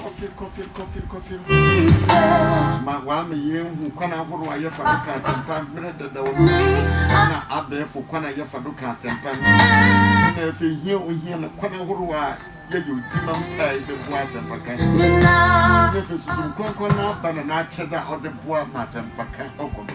Kɔfe, kɔfe, kɔfe, kɔfe mma. Ma w'ame yɛnhu kwan ahorow a yɛfa do ka asɛmpa mmerɛ dadaw no na abɛɛfo kwan a yɛfa do ka asɛmpa no na afei hia ohia na kwan ahorow a yɛyɛ otima mpae de boa asɛmpa kan na afei susu nkorankora no aba na n'akyɛdze a ɔdze boa ma asɛmpa kan ɔkɔ do.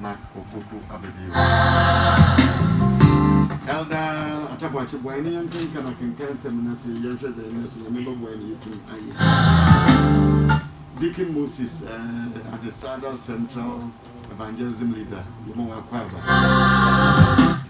na obodu aba bio. Elder Atta Boakye, boa yɛne yɛnkenkan akenkan nsɛm no afei yɛnhwɛ dza yɛne so Nyame bɛboa yɛn na yɛatum ayɛ. Deacon Moses eh, Adesada Central Evangelism Leader, yɛma wakɔ aba.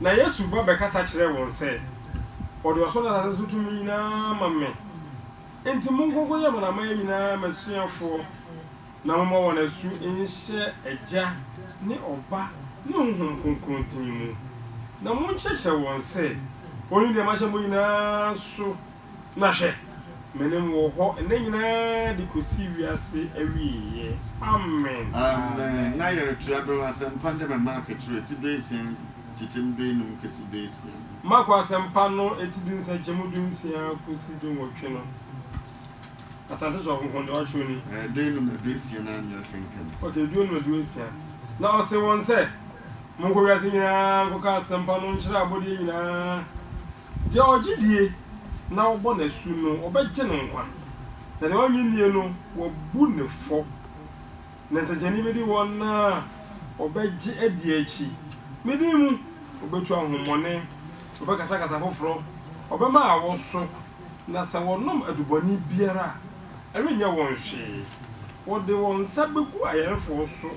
Na Yesu ba bɛkasa kyerɛɛ wɔn sɛ, Wɔde ɔsoro ne asase so tumi nyinaa ama me. Enti monkɔ nkɔyɛ amanaman nyinaa m'asuafoɔ, na momma wɔn asu nhyɛ Agya ne Ɔba ne Honhom Kronkron din mu, na monkyerɛkyerɛ wɔn sɛ wɔnni deɛ mahyɛ mo nyinaa so Na hwɛ, me ne mo wɔ hɔ nna nyinaa de kɔsi wiase awieeɛ. Amen. Amen. Na yɛretua do asɛmpa de ma Mark twerɛ eti duesia nkyekyɛm duenum kesi duesia no. Marko Asɛmpa no eti du nsɛnkyɛmu dunsia kosi dunwɔtwe no, Asante Twa Kronkron deɛ wɔatwerɛ ni. Ɛɛ, duenum na duesia no ara na yɛrekenkan. Okay, duenum na duesia. Na ɔsee wɔn sɛ, Monkɔ wiase nyinaa nkɔka asɛmpa no nkyerɛ abɔdeɛ nyinaa, Deɛ ɔgye die na wɔbɔ no asu no, wɔbɛgye no nkwa, na deɛ ɔnnye nnie no, wɔabu no fɔ. Na nsɛnkyerɛnne bɛdi wɔn a wɔbɛgye adie akyi. Me din mu, wɔbɛtu ahonhommɔne, wɔbɛkasa kasa foforɔ, wɔbɛma awoso, na sɛ wɔnom adubɔne biara a, ɛrenyɛ wɔn hwee. Wɔde wɔn nsa bɛgu ayarefoɔ so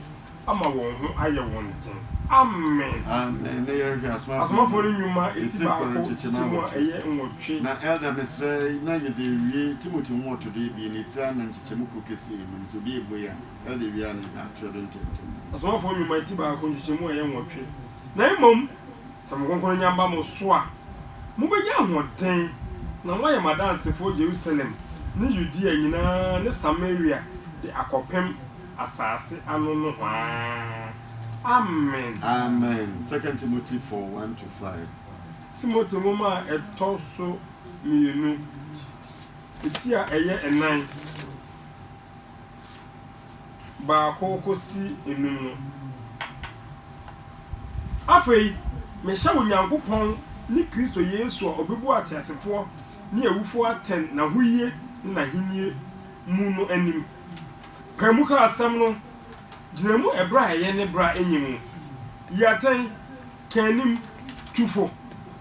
ama wɔn ho ayɛ wɔn den. Amen. Amen. Ne yɛrehwɛ asomafo. Asomafo no nnwuma eti baako kyekyɛ mu a ɛyɛ nwɔtwe. Na Elder mesrɛ na yɛdze ewie Timothy nwɔtode ebien etsi anan kyekyɛ mu kor kɛseɛ mu no sɛ obi ebue a Elder ewie a na yɛdze ato do ntɛmntɛm. Asomafo nnwuma eti baako nkyekyɛ mu a ɛyɛ nwɔtwe. Na mmom sɛ mo Kronkron nya ba mo so a mobɛnya ahoɔden na moayɛ m'adansefoɔ Jerusalem ne Yudea nyinaa ne Samaria de akɔpem asase ano nohoaa. Amen. Amen. Second Timothy four, one to five. Timothy Nwoma a Ɛtɔ so Mmienu, Ti a Ɛyɛ Nnan, Baako Kosi Nnum no. Afei mehyɛ Onyankopɔn ne Kristo Yesu a ɔbɛbu ateasefoɔ ne awufoɔ atɛn n'ahoyie ne n'ahennie mu no anim, Pae mu ka asɛm no. Gyina mu bere a ɛyɛ ne bere a enye mu. Yi atɛn, ka anim, tu fo,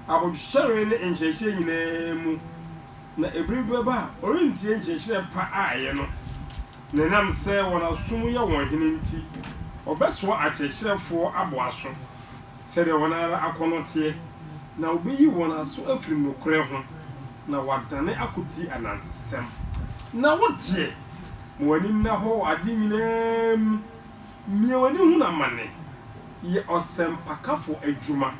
abodwokyɛre ne nkyerɛkyerɛ nyinaa mu, na bere bi bɛba a wɔrentie nkyerɛkyerɛ pa a ɛyɛ no, na ɛnam sɛ wɔn asom yɛ wɔn hene nti, wɔbɛsoa akyerɛkyerɛfo aboaso. sɛdeɛ wɔn ara akɔnnɔ teɛ, na wɔbɛyi wɔn aso afiri nokorɛ ho, na wɔadane akɔtie anansesɛm. Na wo deɛ, ma w'ani nna hɔ wɔ adeɛ nyina ara mu, mia w'ani hunu amane, yɛ ɔsɛmpakafoɔ adwuma,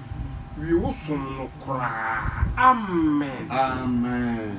wie wo som no koraa. Amen. Amen.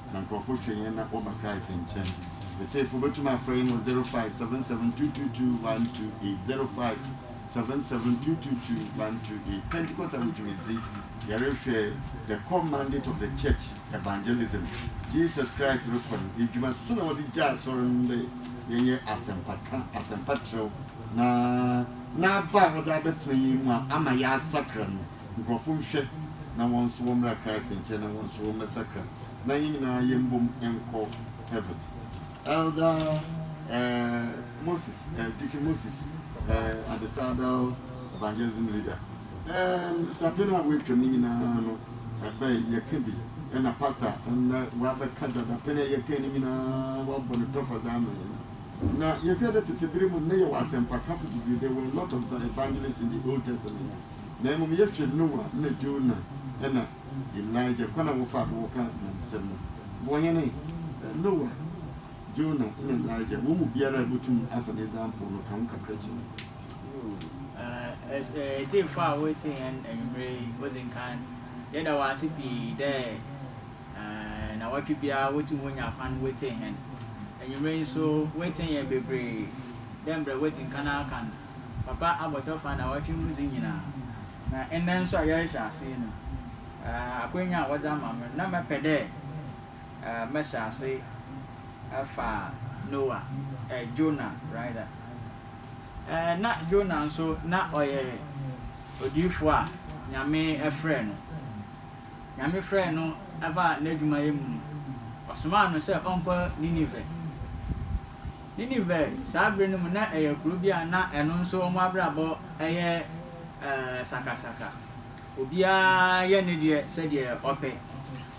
Na nkurɔfo hwɛ yɛn na wɔba Christ nkyɛn. Atiefo, wobɛtumi afrɛ yɛn wɔ 05772221228, 05772221228. Pentecost Ahodwumadzi, Yɛrehwɛ The Core Mandate of the Church, Evangelism, Jesus Christ Rekɔ no Edwuma So na Wɔdze Gyaa Asɔr no dɛ Yɛnyɛ Asɛmpakã, Asɛmpatrɛw, na N'aba a Ɔdze abɛtsena hɛn mu a ama yɛasakra no, nkurɔfo nhwɛ na wɔn nso wɔmmra Christ nkyɛn na wɔn nso wɔmmɛsakra na yɛn nyinaa yɛmbom nkɔ heaven. Elder eh, Moses, eh, Deacon Moses eh, Adesadel, Evangelism Leader. Um, dapɛn a wɔatwam no nyinaa no, ɛbɛn yɛka bi ɛna pastor ɛnna wɔabɛka da dapɛn a yɛka no nyinaa wɔabɔ no tɔfa dza ama yɛn. Na yɛhwɛ dɛ tete bere mu nnɛ yɛwɔ asɛmpakafo bebree, there were a lot of evangelists in the Old Testament. na mmom yɛhwɛ Noah na Jonah na Elijah kwan a wɔfaa do wɔka nyamesɛm no. Boa hɛn ɛ. Noah, Jonah na Elijah, hɔn mu biara a ibotum afa ne example no ka ho kakra kyerɛ hɛn. Eww etsiefo a woritsie hɛn ewimbir yi, odzi nkan, yɛda wo ase pii dɛ naawɔtwe biara wotum wonya kwan wotsie hɛn. Ewimbir yi so, woetsie hɛn beberee dɛ mbrɛ woedzi nkan aka no. Papa abɔtɔ fa naawɔtwe mu dze nyina, na ndɛ so a yɛrehyɛ ase yi no, akwanya a wɔdze ama me no, nna mɛpɛ dɛ mɛhyɛ ase afa Noah, Jonah rather. Nna Jonah so na ɔyɛ odiyifo a Nyame frɛɛ no. Nyame frɛɛ no baa n'edwumayɛ mu no, Ɔsomaa no sɛ ɔnkɔ Nineveh. Nineveh, saa bere no mu na ɛyɛ kurow bi a na ɛno nso wɔn abrabɔ yɛ sakasaka. Obiara yɛ ne deɛ sɛdeɛ ɔpɛ.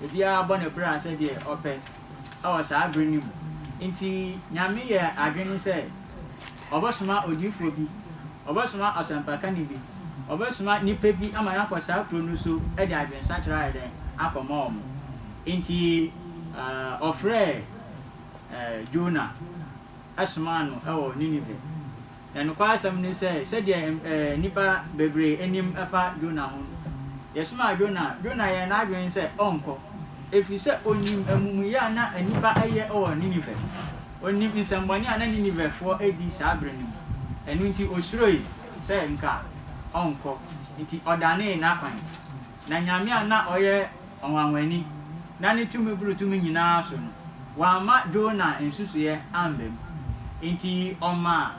Obiara bɔ ne bra sɛdeɛ ɔpɛ wɔ saa bere no mu. Enti Nyame yɛɛ adwene sɛ ɔbɛsoma odiyifoɔ bi, ɔbɛsoma ɔsɛmpakani bi, ɔbɛsoma nipa bi ama no akɔ saa kurow no so de adwensakyera ayɛ dɛn? Akɔma wɔn. Enti ɔfrɛɛ. Jonah somaa no wɔ Nineveh. Na nokwasɛm ne sɛ, sɛdeɛ nnipa bebree nim fa Jonah ho no, yɛsomaa Jonah a, Jonah yɛɛ n'adwene sɛ ɔrenkɔ, ɛfiri sɛ ɔnim amumuyɛ a na nnipa reyɛ wɔ Nineveh. Ɔnim nsɛmmɔne a na Ninevehfoɔ redi saa berɛ no mu. Ɛno nti, ɔsuroe sɛ nka ɔrenkɔ, enti ɔdanee n'akwan. Na Nyame a na ɔyɛ ɔnwanwani na ne tumi boro tumi nyinaa so no, wamma Jona nsusuiɛ amba mu. Enti ɔmaa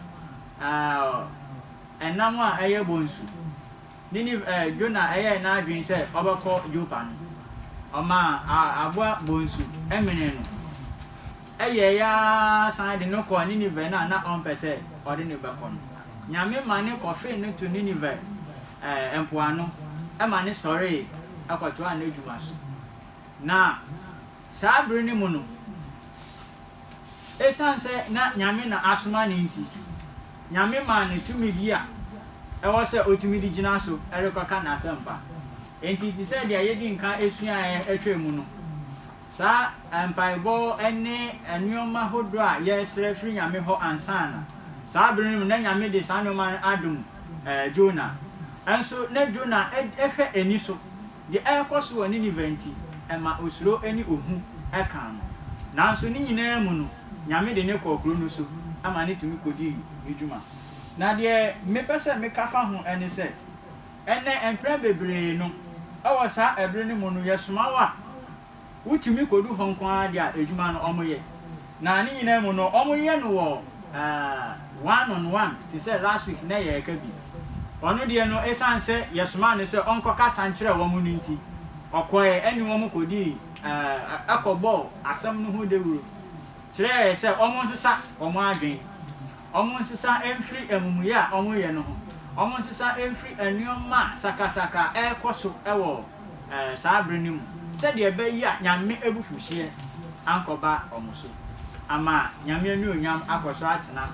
eh, ɛnam a ɛyɛ bonsu, Ninive eh, Jona ɛyɛɛ n'adwene sɛ ɔbɛkɔ Jopa no, ɔmaa ah, aboa bonsu menee no. Ɛyɛeɛ ara san de no kɔɔ Ninive no a na ɔmpɛ sɛ ɔde no bɛkɔ no. Nyame ma ne kɔfee no to Nineveh mpoano ma no sɔree kɔtoaa n'adwuma so. Na saa bere no mu no, esiane sɛ na Nyame na asoma no nti, Nyame maa no tumidi a ɛwɔ sɛ otumi de gyina so rekɔka n'asɛmpa. Enti te sɛ deɛ yɛadi nka suaeɛ hwɛɛ mu no, Saa mpaebɔ ne nnoɔma hodoɔ a yɛsrɛ firi Nyame hɔ ansa no, saa bere no mu na Nyame de saa nnoɔma no adom Jona. Nso na Jona hwɛ ani so. Deɛ ɛrekɔ so wɔ Nineveh nti, ɛma osuro ne ohu kaa no. Nanso ne nyinaa mu no, Nyame de no kɔɔ kuro no so ma no tumi kɔdii ne dwuma. Na deɛ mepɛ sɛ meka fa ho ne sɛ, Ɛnnɛ, mpɛn bebree no, wɔ saa ɛbere no mu no, yɛsoma wo a, wutumi kodu hɔ nko ara de a adwuma no wɔyɛ. Na ne nyinaa mu no, wɔyɛ no wɔ eh, one on one, te sɛ last week nnɛ yɛreka bi. Ɔno deɛ no, esiane sɛ yɛsomaa no sɛ ɔnkɔkasa nkyerɛ wɔn no nti, ɔkɔe ɛne wɔn kodii eh, ɛkɔbɔɔ asɛm no ho dawuru, kyerɛɛ sɛ wɔnsesa wɔn adwene. wɔnsesa mfiri amumuyɛ a wɔyɛ no ho, wɔnsesa mfiri nneɛma sakasaka a ɛrekɔ so wɔ saa bere no mu, sɛdeɛ ɛbɛyɛ a Nyame abufuhyeɛ ankɔba wɔn so, ama Nyame anuonyam akɔ so atena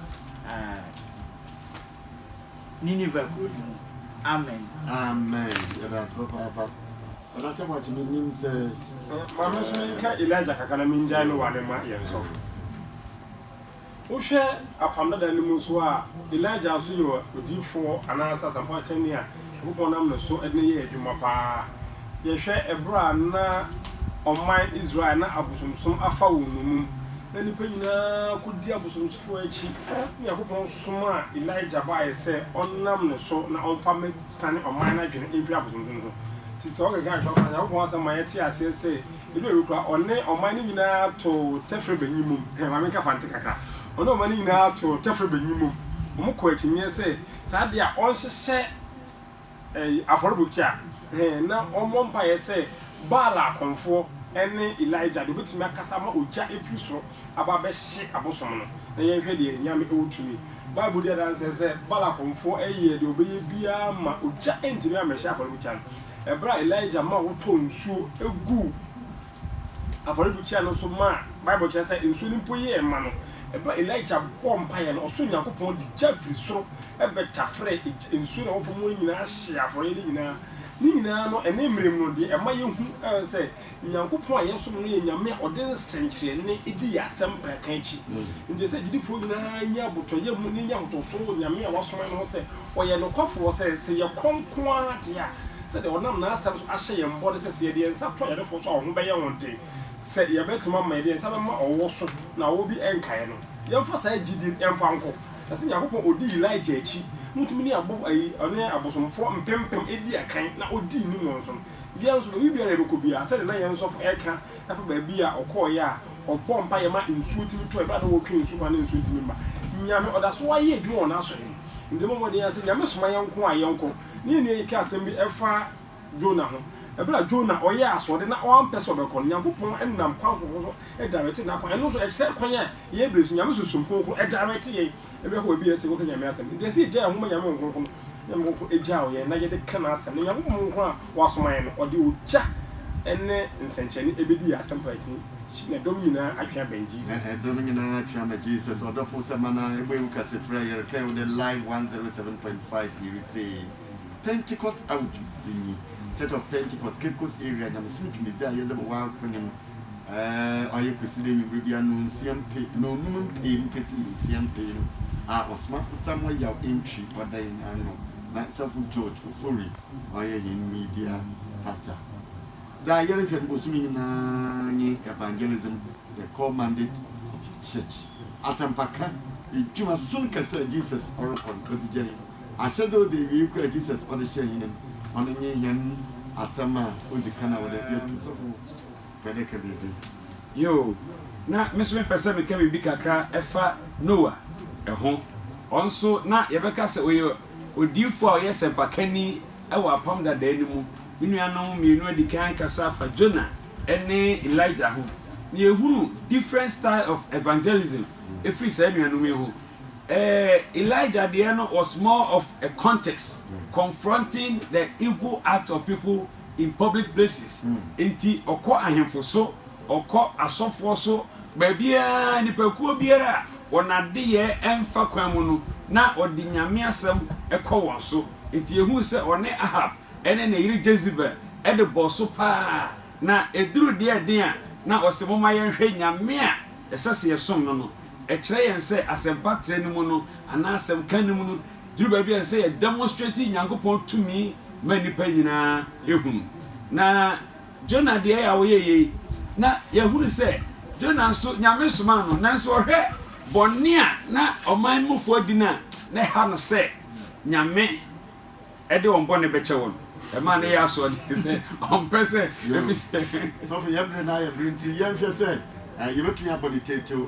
Nineveh kuro no mu. Amen. Amen. Yɛda ase papaapa. Ɛna kyɛ bɔ kyeme nim sɛ. Maame nso menka Elijah kakra na mengyae no wa ne ma yɛn sɔfo. Wohwɛ Apam Dada no mu nso a, Elijah nso yɛ odiyifoɔ anaasɛ asɛmpakanni a Nyankopɔn nam ne so de no yɛɛ adwuma paa. Yɛhwɛ ɛberɛ a na ɔman Israel na abosomsom afa wɔn nnommum, na nnipa nyinaa kɔdi abosomsfoɔ akyi, na Nyankopɔn somaa Elijah baeɛ sɛ ɔnnam ne so na ɔmfa mmɛtane ɔman no adwene mfiri abosomsom ho. Nti sɛ ɔkenkan Twerɛkrɔmfoɔ no a, Nyankopɔn asɛm ma yɛte aseɛ sɛ, Edu awiei koraa, ɔne ɔman no nyinaa too tɛfrɛ banyin mum. Hwɛ, ma menka fante kakra. Ɔne ɔman no nyinaa too tɛfrɛ banyin mum. Wɔkɔɔ akyinnye sɛ saa de a ɔnhyehyɛ afɔrebukyia, na ɔmmɔ mpae sɛ Baal akɔmfoɔ ne Elijah de, obetumi akasa ama ogya afi soro aba abɛhye abosom no. Na yɛnhwɛ deɛ anyame wɔ tumi. Bible di adanse sɛ Baal akɔmfoɔ yɛɛ deɛ wɔbɛyɛ biara ma ogya antumi ammɛhye afɔrebukyia no. Bere a Elijah ma wɔtɔɔ nsuo guu afɔrebukyia no so maa Bible kyerɛ sɛ nsuo no mpo yɛɛ ma no, bere a Elijah bɔɔ mpaeɛ no, ɔsoro Nyankopɔn de gya firi soro bɛtaferɛɛ gya, nsuo no a ɛwɔ fam hɔ no nyinaa hyee afɔreɛ no nyinaa. Ne nyinaa no, ɛnnɛ mmerɛ mu no deɛ ɛma yɛhu sɛ Nyankopɔn a yɛsom no yɛ Nyame a ɔde nsɛnkyerɛnne di yɛn asɛmpa ka akyi. Enti ɛsɛ sɛ gyidifo nyinaa nya abotɔyam mu na enya ahotoso wɔ Nyame a wɔasoma no ho sɛ ɔyɛ nokwafo wɔ sɛ, sɛ yɛkɔ nko ara de a, sɛnea ɔnam n'Asɛm so ahyɛ yɛn bɔ ne sɛ, sɛ yɛde yɛn nsa to ayarefo so a wɔn ho bɛyɛ wɔn den, sɛ yɛbɛtumi ama yɛde yɛn nsa bɛma ɔwɔ so na ɔwɔ bi renka yɛn no. Yɛmfa saa gyidi no mfa nkɔ. Na sɛ Nyankopɔn a ɔdii Elijah akyi no tumi ne abɔfo, ɛne abosomfoɔ mpempem dii akan na ɔdii nim wɔn so no, Yɛn nso, baabiara a yɛbɛkɔ biara, sɛdeɛ na yɛn sɔfo reka fa baabi a ɔkɔeɛ a ɔbɔɔ mpaeɛ ma nsuo tumi tɔeɛ berɛ a na wɔretwɛn nsuo mu a na nsuo ntumi mma. Nyame, ɔda so ara yɛ adwuma wɔ n'asoɛe mu. Enti yɛmmɔ mmɔden ara sɛ, Nyame soma yɛn nko a yɛnkɔ. Ne yɛn nua yi kaa asɛm bi fa Jonah ho. Berɛ a Jonah ɔyɛɛ asoɔden na wampɛ sɛ ɔbɛkɔ no, Nyankopɔn nam kwan foforɔ so daeretee n'akwan. Ɛno nso, ɛkyerɛ kwan a yɛbɛsi Nyame sunsum kronkron daerɛte yɛn. Ebia hɔ baabi a ɛsɛ sɛ wɔka Nyame asɛm. Enti ɛsɛ sɛ yɛgyae homa Nyame Honhom Kronkron no. Nyame Honhom Kronkron gyaw yɛn na yɛde ka N'asɛm. Na Nyankopɔn Honhom Kronkron a Wasoma yɛn no, ɔde ogya ne nsɛnkyerɛnne ɛbɛdi yɛn asɛm pɛn akyi. Na ɛdɔm nyinaa atwe abɛn Jesus. Ɛdɔm nyinaa atwe ama Jesus. Ɔdɔfo sɛ mana ɛbɔ ewu kɛse frɛ yɛn kɛn wo dɛ live 107.5 yɛre tie Pentecost awodwo dzi nyi Church of Pentecost Cape Coast area nyamesom dwumadzi a yɛdze bɔ w'akonim Ɛɛ, ɔayɛ Kwesida ewimbir bi ano nsia mpe na onum mpee mu kesi nsia mpee no, a Ɔsomafo Samuel yaw entwi ɔdan no ano na Sɔfo George Ofori ɔyɛ hɛn media pastor. Dza yɛrohwɛ no bosoom nyina nye Evangelism, the Core Mandate of the Church, asɛmpakã edwuma soronko kɛse a Jesus ɔrokɔ no, ɔdze gya hɛn. Ahyɛdze a odzi ewiei koraa a Jesus ɔdze hyɛɛ hɛn no, ɔno nye hɛn asɛm a odzi kan a ɔwɔ dɛ yɛto. Mede ka biribi. Yoo, na me nso mepɛ sɛ meka biribi kakra fa Noa ho. Ɔno nso, na yɛbɛka sɛ ɔyɛ odiyifo a ɔyɛ sɛmpakani wɔ Apam Dadaa no mu. Me nuanom mmienu adi kan akasa afa Jonah ne Elijah ho, na yɛhunu different style of evangelism firi saa anuanom yi ho. Elijah deɛ no was more of a context, confronting the evil acts of people. in public places, enti ɔkɔ ahemfo so, ɔkɔ asɔfoɔ so, baabiara, nnipakuo biara a wɔn adeyɛɛ mfa kwan mu no, na ɔde Nyame asɛm kɔ wɔn so. Enti yɛhunu sɛ ɔne Ahab ne ne yere Jezebel de bɔɔ so pa ara, na ɛduruu deɛ ɛden a na ɔse momma yɛnhwɛ Nyame a ɛsɛ sɛ yɛsom no no. Ɛkyerɛ yɛn sɛ asɛmpatrɛ no mu no, anaa asɛm ka no mu no, Duru baabi a ɛsɛ sɛ yɛ demonstrate Nyankopɔn tumi ma nnipa nyinaa hunu. Na Jonah deɛ a ɔyɛ yei, na yɛhunu sɛ Jonah nso Nyame somaa no, nanso ɔhwɛ bɔne a na ɔman no mufoɔ di no a, na ɛha no sɛ Nyame ɛde wɔn bɔne bɛkyɛ wɔn. Ɛmaa ne yɛ asoɔden sɛ ɔmpɛ sɛ efi sɛ. Sɔfo yɛ bere na yɛ bere nti yɛnhwɛ sɛ yɛbɛtumi abɔ ne tetew.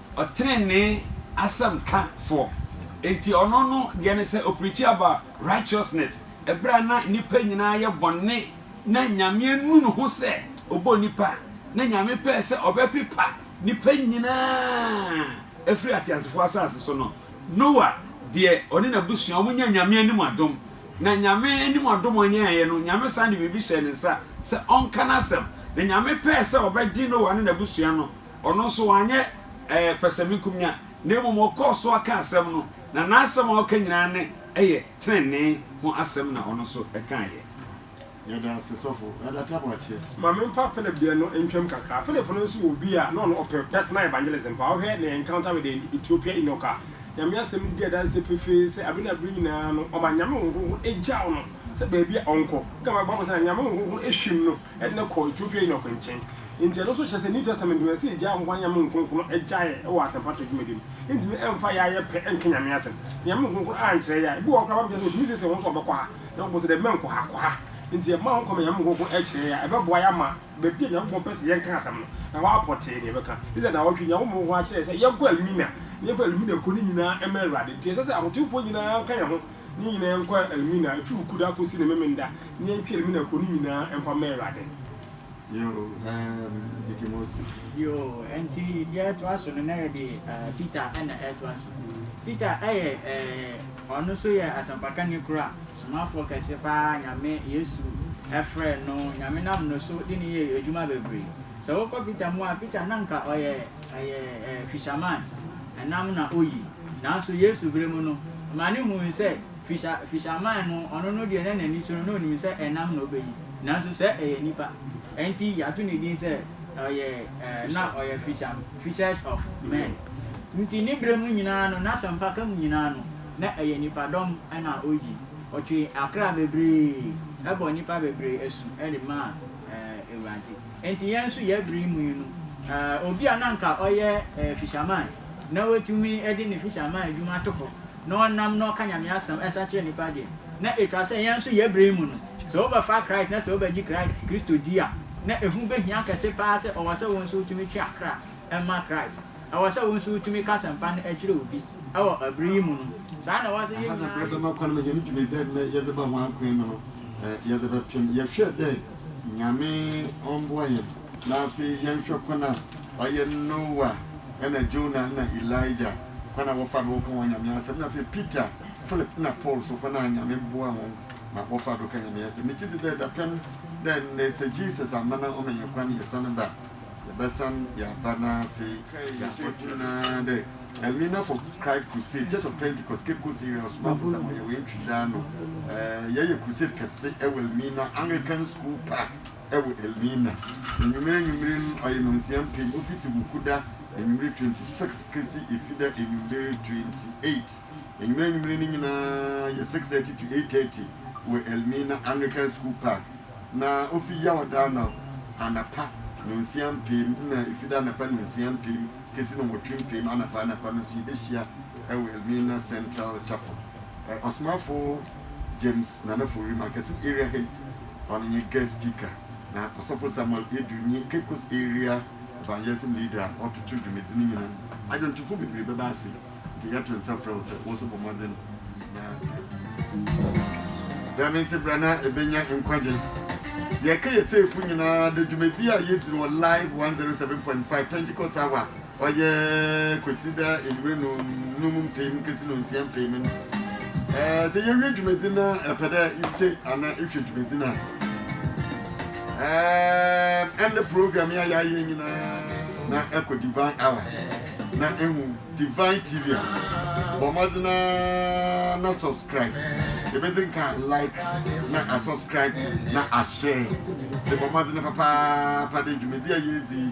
Ɔtrenee asɛm ka foɔ. Enti ɔno no deɛ ne sɛ ɔpreachi about righteousness ɛberɛ a na nnipa nyinaa yɛ bɔne na Nyame anu ne ho sɛ ɔbɔ nnipa na Nyame pɛɛ sɛ ɔbɛpepa nnipa nyinaa firi ateasefoɔ asase so no. Noah deɛ ɔne n'abusua wɔn nyaa Nyame anim adom na Nyame anim adom a ɔnyaeɛ no Nyame san de biribi hyɛɛ ne nsa sɛ ɔnka n'asɛm na Nyame pɛɛ sɛ ɔbɛgye Noah ne n'abusua no Ɔno nso, wanyɛ pɛsɛmenkominya, na mmom ɔkɔɔ so aka asɛm no, na n'asɛm a ɔka nyinaa ne ɛyɛ trenee ho asɛm na ɔno nso kaeɛ. Yɛda ase sɔfo Adata Boakye. Ma me mfa Philip deɛ no ntwam kakra. Philip no nso yɛ obi a na ɔno ɔpɛ personal evangelism paa. Wohwɛ ne encounter with the Ethiopian eunuch a, Nyame asɛm no di adanseɛ pefee sɛ abe na bere nyinaa no ɔma Nyame Honhom Kronkron egyaw no sɛ baabi a ɔnkɔ. Woka ma Bible sɛ na Nyame Honhom Kronkron hwim no de no kɔɔ Ethiopian eunuch nkyɛn. Enti ɛno nso kyerɛ sɛ New Testament mu no, ɛsɛ yegyae ahɔho anyame nkronkron gyae wɔ asɛmpatrɛw dwumadi mu. Yentumi mfa yɛ ayɛ pɛ nka Nyame asɛm. Anyame nkronkron ankyerɛ yɛn a, ebi wɔ hɔ koraa Bible kyerɛ sɛ otumi siesie wɔn so a wɔbɛkɔ ha, na Nyankopɔn se, Dabi, mɛnkɔ ha, kɔ ha. Enti yɛma ho kwan ma anyame nkronkron kyerɛ yɛn a, ɛbɛboa yɛn ama baabi a Nyankopɔn pɛ sɛ yɛnka asɛm no, ɛhɔ ara pɔtee na yɛbɛka. Israel nnawɔtwe yi, Nyankopɔn hɔho ara kyerɛɛ yɛn sɛ yɛnkɔ Elmina, na yɛmfa Elmina kɔ no nyinaa mma Awurade. Enti ɛsɛ sɛ ahotewfo nyinaa nka yɛn ho na yɛn nyinaa yɛnkɔ Elmina, efi Wukuda kosi ne Memenda, na yɛntwe Elmina kɔ no nyinaa mfa mma Awurade. Yoo, ɛɛm, Dike Moses. Yoo, ɛnti deɛ ɛtoa so no na yɛde ɛɛ Peter ɛna ɛtoa so. Peter ɛyɛ ɛɛ ɔno nso yɛ asɛmpakani koro a somafoɔ kɛse paa Nyame, Yesu, ɛfrɛɛ no. Nyame nam no so de no yɛɛ adwuma bebree. Sɛ wokɔ Peter mu a, Peter na nka ɔyɛ ɛyɛ ɛɛ fisherman, ɛnam na oyi. Nanso Yesu berɛ mu no, ɔma no hui sɛ. Fisher, fisherman no, ɔno no deɛ na n'ani so no, na ɔnim sɛ ɛnam na ɔbɛyi, nanso sɛ ɛyɛ nipa, ɛnti yɛato ne din sɛ ɔyɛ, ɛɛ, na ɔyɛ fisher, fishers of men. Nti ne berɛ mu nyinaa no, n'asɛmpaka mu nyinaa no, na ɛyɛ nipadɔm na ɔyi. Ɔtwee akra bebree, bɔɔ nnipa bebree asu de maa, ɛɛ, Awurade. Ɛnti yɛn nso yɛn berɛ yi mu yi no, ɛɛ, obi a na anka ɔyɛ, ɛɛ, fisherman, na watumi de ne fisherman adwuma ato hɔ, na ɔnam no ɔka Nyame asɛm ɛsa kyerɛ nnipa deɛ, na etwa sɛ yɛn nso yɛ berɛ yi mu no, sɛ wo bɛfa Christ na sɛ wo bɛgye Christ, Kristo di a, na ɛho bɛhia kɛse paa sɛ ɔwɔ sɛ wo nso wotumi twe akra ɛma Christ. Ɛwɔ sɛ wo nso wotumi ka asɛmpa no ɛkyerɛ obi ɛwɔ ɛberɛ yi mu no. Saa na ɛwɔ sɛ yɛn nyinaa yɛ. Aha na berɛ bɛma kwan ma yɛn dwuma dza ndɛ yɛdze ba ho akwan mu no yɛdze bɛpem. Yɛhwɛ dɛ Nyame ɔmboa yɛn. Na afei yɛnhwɛ kwan a ɔyɛ Noah na Jonah na Elijah kwan a wɔfa do wɔkã hɔn Nyame asɛm na afei Peter, Philip na Paul so kwan a Nyame boa hɔn ma wɔfa do kã Nyame asɛm. Megye dzi dɛ dapɛn dɛ ndɛ sɛ Jesus amma na ɔma hɛn kwan yɛsan ba a, yɛbɛsan yɛaba na afei yɛakɔto mu. Na dɛ Elmina kɔ Christ Crusade, Church of Pentecost, Cape Coast Area Ɔsomafo Samuel Yɛwɛn Twidze ano, yɛyɛ crusade kɛse wɔ Elmina Anglican School Park, wɔ Elmina. Enyimire enyimire no, ɔyɛ nonsia mpem, ofitsi Wukuda enyimire twenty six kesi Efida enyimire twenty eight. Enyimire enyimire no nyina yɛ six thirty to eight thirty wɔ Elmina Anglican School Park, na ofi Yawɔda no anapa nonsia mpem na Efida anapa nonsia mpem kesi nɔnwɔtwe mpem anapa anapa no so yebehyia wɔ Elmina Central Chapel. Ɔsomafo. James Nana Fowrim Akɛse Area Head, ɔno nye Guest Speaker, na Ɔsɔfo Samuel Edu nye Caicos Area Evangelism Leader a ɔtoto dwumadzi no nyina. Adwontofo beberee bɛba ase, ntsi yɛto nsa frɛ wo sɛ wo so bɔ mbɔdzen na bra. Dɛm ntsi bra na ebenya nkwagye. Yɛreka yɛtsiefo nyina dɛ dwumadzi a yedzi no wɔ Live one zero seven point five Pentecost Hour Ɔyɛ Kwesida enyimire no nnum mpem kesi no nsia mpem no. Ɛɛ sɛ yewie dwumadzi na ɛpɛ dɛ itsie anaa ihwɛ dwumadzi no a, ɛɛ ɛnde program yi a yɛayɛ nyinaa na ɛkɔ Divine Hour na ehu Divine TV a. Bɔ mbɔdzen ara na subscribe. Ebedzi nka like na asubscribe na ashare. Ebɔ mbɔdzen papaapa dɛ dwumadzi a yeedzi yi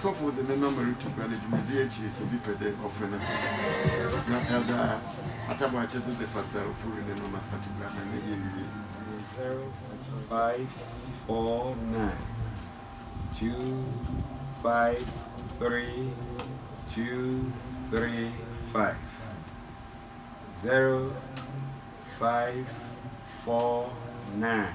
Sɔfo dze ne nɔma rutu gua no dwumadzi ekyir sɛ obi pɛ dɛ ɔfrɛ no ho, na ɔdze atabaa akyɛdze dze fata ɔfo wi ne nɔma ato gua na ne yɛ ewie. 0549 253 235 0549.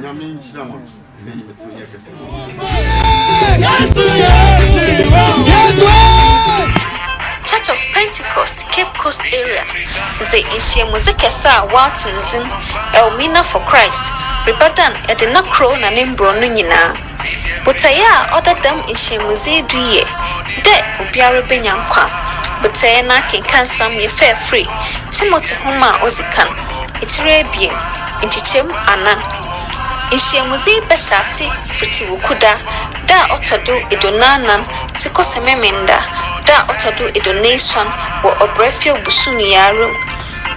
Nyame nhyira mo na yi bɛtɔ yɛ kɛse. Church of Pentecost Cape Coast Area dze nhyiamudze kɛse a wɔato no dzin Elmina for Christ rebɛdan Edina Kro na ne mborɔn no nyina. Botae a ɔda dɛm nhyiamudzi yi do yɛ dɛ obiara benya nkwa. Botae no akenkansɛm yɛ fɛɛfir, Timothy Nwoma a Odzi Kan, etsir ebien, nkyekyɛmu anan. Nhyiamudzi yi bɛhyɛ ase fitsi Wukuda da a ɔtɔ do eduonuanan dze kɔsɛ Memenda da a ɔtɔ do eduonuesuon wɔ Ɔbɛrɛfɛw bosoom yi ara mu.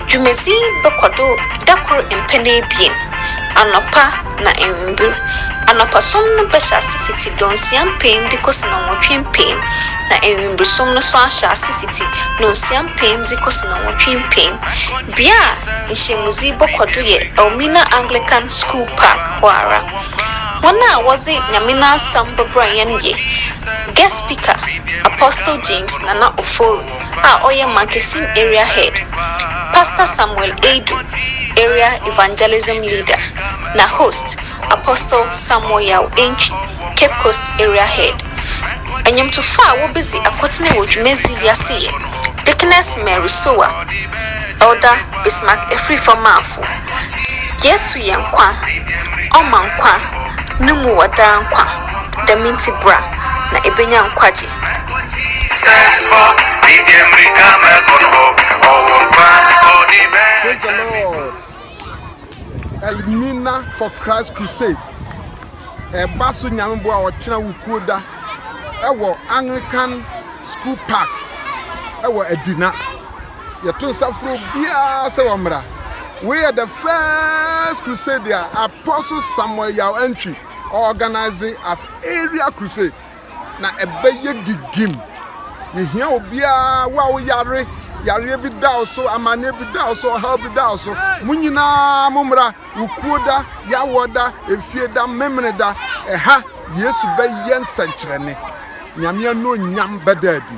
Dwumadzi yi bɔkɔ do da kor mpɛn ebien, anɔpa na ewimbir. Anɔpa som no bɛhyɛ ase fitsi dɔnsia mpem dze kosi nɔnwɔtwe mpem, na ewimbir som no so ahyɛ ase fitsi dɔnsia mpem dze kosi nɔnwɔtwe mpem. Bea a nhyiamudzi yi bɔkɔ do yɛ Elmina Anglican Skuul Park hɔ ara. Hɔn a wɔdze Nyame n'asɛm bɔbra hɛn yɛ, Guest Speaker, Apostle James Nana Ofori. a ɔyɛ Markesim Area Head, Pastor Samuel Adu, Area Evangelism Leader, na Host, Apostle Samuel Yaw Antwi, Cape Coast Area Head. Nnwomtofo a wobedzi akotene wɔ dwumadzi yi ase yɛ, Deaconess Mary Sowa, Elder Bismark Afrifa-Marfo, Yesu yɛ nkwa, Ɔma nkwa, No mu wɔ daa nkwa, Dɛm ntsi bra, na ebenya nkwagye. Praise the Lord. Elmina for Christ Crusade. Ɛba so nyamebo a ɔkyena wukuo da ɛwɔ Anglican School Park ɛwɔ Adina. Yɛto nsa foro biara sɛ wɔ mmara. We are the first crusade a Apostle Samuel Yaw Antwi organize as area crusade. na ɛbɛyɛ gigim. Yɛhia obiara, wo a woyare, yareɛ bi da wo so, amanneɛ bi da wo so, ɔhaw bi da wo so. Mo nyinaa mo mmra, wo kuo da, yawɔ da, efie da, memene da. Ɛha, Yesu bɛyɛ nsɛnkyerɛnne. Nyame anuonyam bɛda adi.